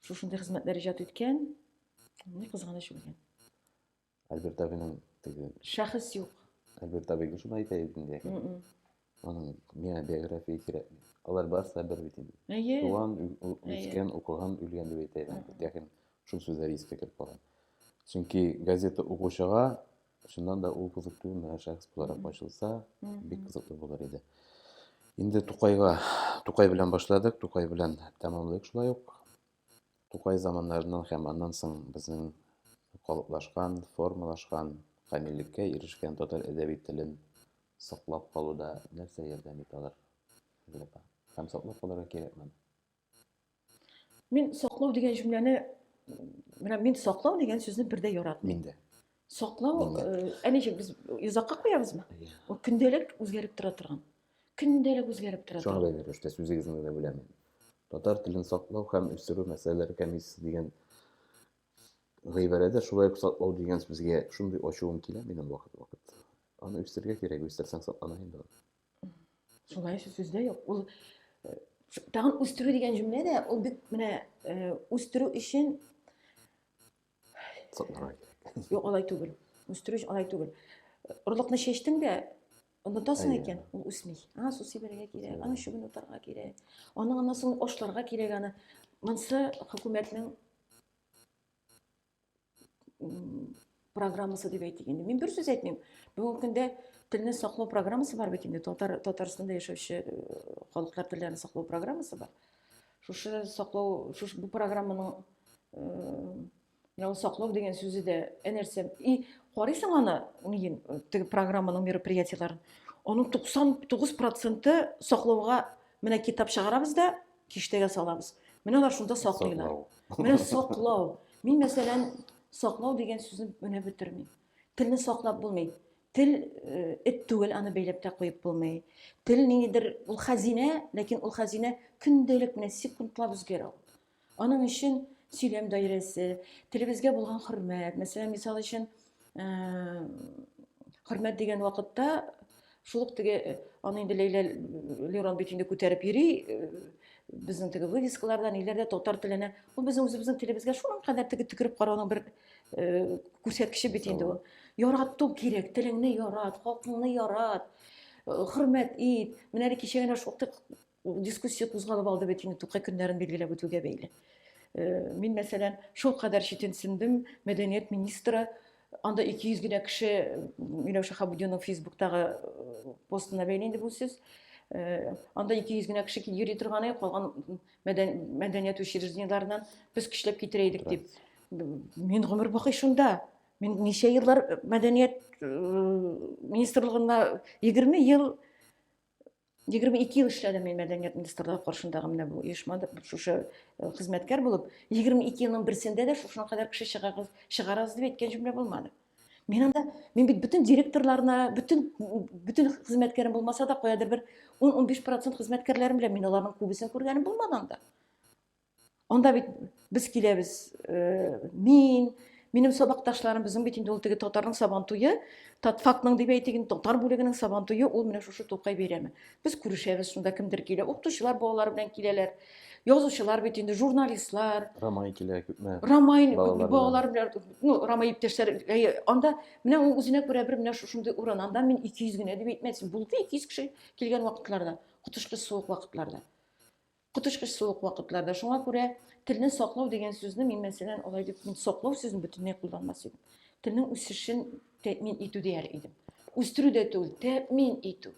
шушындый хезмәтләр иҗат иткән, ни кызганыч үлгән. Альберт абыйның теге шәхес юк. Альберт абый шуны әйтә иде инде. Аның миңа биография кирәк. Алар барысы да бер бит инде. Әйе. Туган, үскән, укыган, үлгән дип әйтә иде. Ләкин шул сүзләр искә кереп калган. Чөнки газета укучыга Чыннан да ул кызыклы менә шәхес буларак ачылса, бик кызыклы булыр иде. Инде Тукайга, Тукай белән башладык, Тукай белән тәмамлыйк шулай ук. Тукай заманнарыннан һәм аннан соң безнең калыплашкан, формалашкан, камиллеккә ирешкән татар әдәби телен саклап калуда нәрсә ярдәм итә алар? Һәм саклап калырга кирәкме? Мин саклау дигән җөмләне менә мин саклау дигән сүзне бер дә яратмыйм. Мин дә. Саклау, ә ничек без йозакка куябызмы? Ул көндәлек үзгәреп тора торган. Көндәлек үзгәреп тора торган. Шуңа бәйле рәвештә сүзегезне генә беләм. Татар телен саклау һәм үстерү мәсьәләләре комиссиясе дигән гыйбарәдә шулай ук саклау дигән сүзгә шундый ачуым килә минем вакыт-вакыт. Аны үстерергә кирәк, үстерсәң саклана инде. шулай өчен сүз дә юк ул э, тагын үстерү дигән җөмлә дә ул бит менә э, үстерү өчен юк алай түгел үстерү өчен алай түгел орлыкны чәчтең дә онытасың икән ул үсми ана су сибәргә кирәк аның чүбен утарга кирәк аның аннан соң ашларга кирәк аны монысы хөкүмәтнең программасы дип әйтик инде мин бер сүз әйтмим бүгенге көндә телне саклау программасы бар бит инде татар татарстанда яшәүче э, халыклар телләрен саклау программасы бар шушы саклау шушы бу программаның менә э, саклау дигән сүзе дә нәрсә и карыйсың аны нигин э, теге программаның мероприятиеләрен аның туксан тугыз проценты саклауга менә китап чыгарабыз да киштәгә салабыз. Менә алар шунда саклыйлар. Менә саклау. Мин мәсәлән саклау дигән сүзне менә бетермим. Телне саклап булмый. Тел э, эт түгел, аны бәйләп тә куеп булмый. Тел ниндидер ул хәзинә, ләкин ул хәзинә көндәлек менә секундлап үзгәрә ул. Аның өчен сөйләм даирәсе, телебезгә булган хөрмәт, мәсәлән, мисал өчен, хөрмәт дигән вакытта шул ук теге э, аны инде ләйлә лерон бит инде күтәреп йөри э, безнең теге вывескаларда ниләрдә татар теленә ул безнең үзебезнең телебезгә шуның кадәр теге төкереп карауның бер э, күрсәткече бит инде ул ярату кирәк телеңне ярат халкыңны ярат хөрмәт ит менә әле кичә генә шактый Ул дискуссия кузгалып алды бит инде Тукай көннәрен билгеләп үтүгә бәйле. Э, мин мәсәлән, шул кадәр читенсендем, мәдәният министры анда 200 генә кеше Миләүшә Хабудинның Фейсбуктагы э, постына бәйле инде бу сүз. Э, анда 200 генә кеше йөри торганы, калган мәдәният учреждениеләреннән без көчләп китерә идек дип. Мин гомер бакый шунда. Мин ничә еллар мәдәният министрлыгында 20 ел 22 ел эшләдем мин мәдәният министрлыгы каршындагы менә бу оешмада шушы э, хезмәткәр булып 22 елның берсендә дә шушына кадәр кеше чыгарыгыз чыгарыгыз дип әйткән җөмлә булмады мин анда мин бит бөтен директорларына бөтен бөтен хезмәткәрем булмаса да каядыр бер 10-15 процент хезмәткәрләрем белән мин аларның күбесен күргәнем булмады анда Анда бит без киләбез, э, мин, минем сабакташларым, безнең бит инде ул теге татарның сабан туе, татфакның дип әйтик, татар бүлегенең сабан туе ул менә шушы Тукай бәйрәме. Без күрешәбез, шунда кемдер килә, укытучылар балалары белән киләләр. Язучылар бит инде, журналистлар. Рамай килә күпме? Рамай балалар белән, ну, Рамай иптәшләр, анда менә ул үзенә күрә бер менә шушындый урын. Анда мин 200 генә дип әйтмәсен. Булды 200 кеше килгән вакытларда, котышкы суык вакытларда. Коточкыч суык вакытларда. Шуңа күрә телне саклау дигән сүзне мин, мәсәлән, алай дип, мин саклау сүзен бөтенләй кулланмас идем. Телнең үсешен тәэмин итү дияр идем. Үстерү дә түгел, тәэмин итү.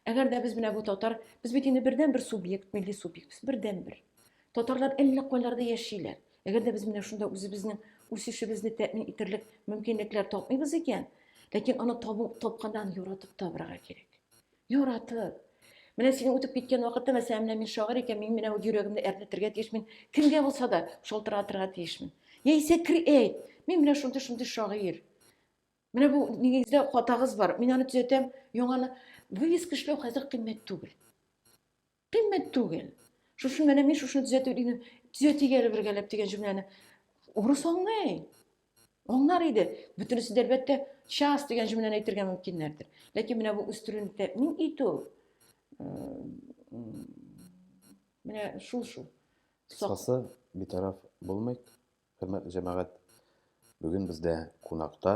Әгәр дә без менә бу татар, без бит инде бердән бер субъект, милли субъект, без бердән бер. Татарлар әллә кайларда яшиләр. Әгәр дә без менә шунда үзебезнең үсешебезне тәэмин итерлек мөмкинлекләр тапмыйбыз икән, ләкин аны табу, тапканнан яратып табырга кирәк. Яратып. Менә синең үтеп киткән вакытта, мәсәлән, менә мин шагыйрь икән, мин менә үз йөрәгемне әрнетергә тиешмен, кемгә булса да шалтыратырга тиешмен. Яисә креэйт, мин менә шундый шундый шагыйрь. Менә бу нигездә хатагыз бар, мин аны төзәтәм, яңаны вывеска эшләү хәзер кыйммәт түгел. Кыйммәт түгел. Шушы менә мин шушны төзәтү дигән, төзәтик әле бергәләп дигән җөмләне урыс аңлый. Аңлар иде. Бөтенесе дә әлбәттә час дигән җөмләне әйтергә мөмкиннәрдер. Ләкин менә бу үстерүне тәэмин итү менә шул шул. Кыскасы, битараф булмыйк, хөрмәтле җәмәгать. Бүген бездә кунакта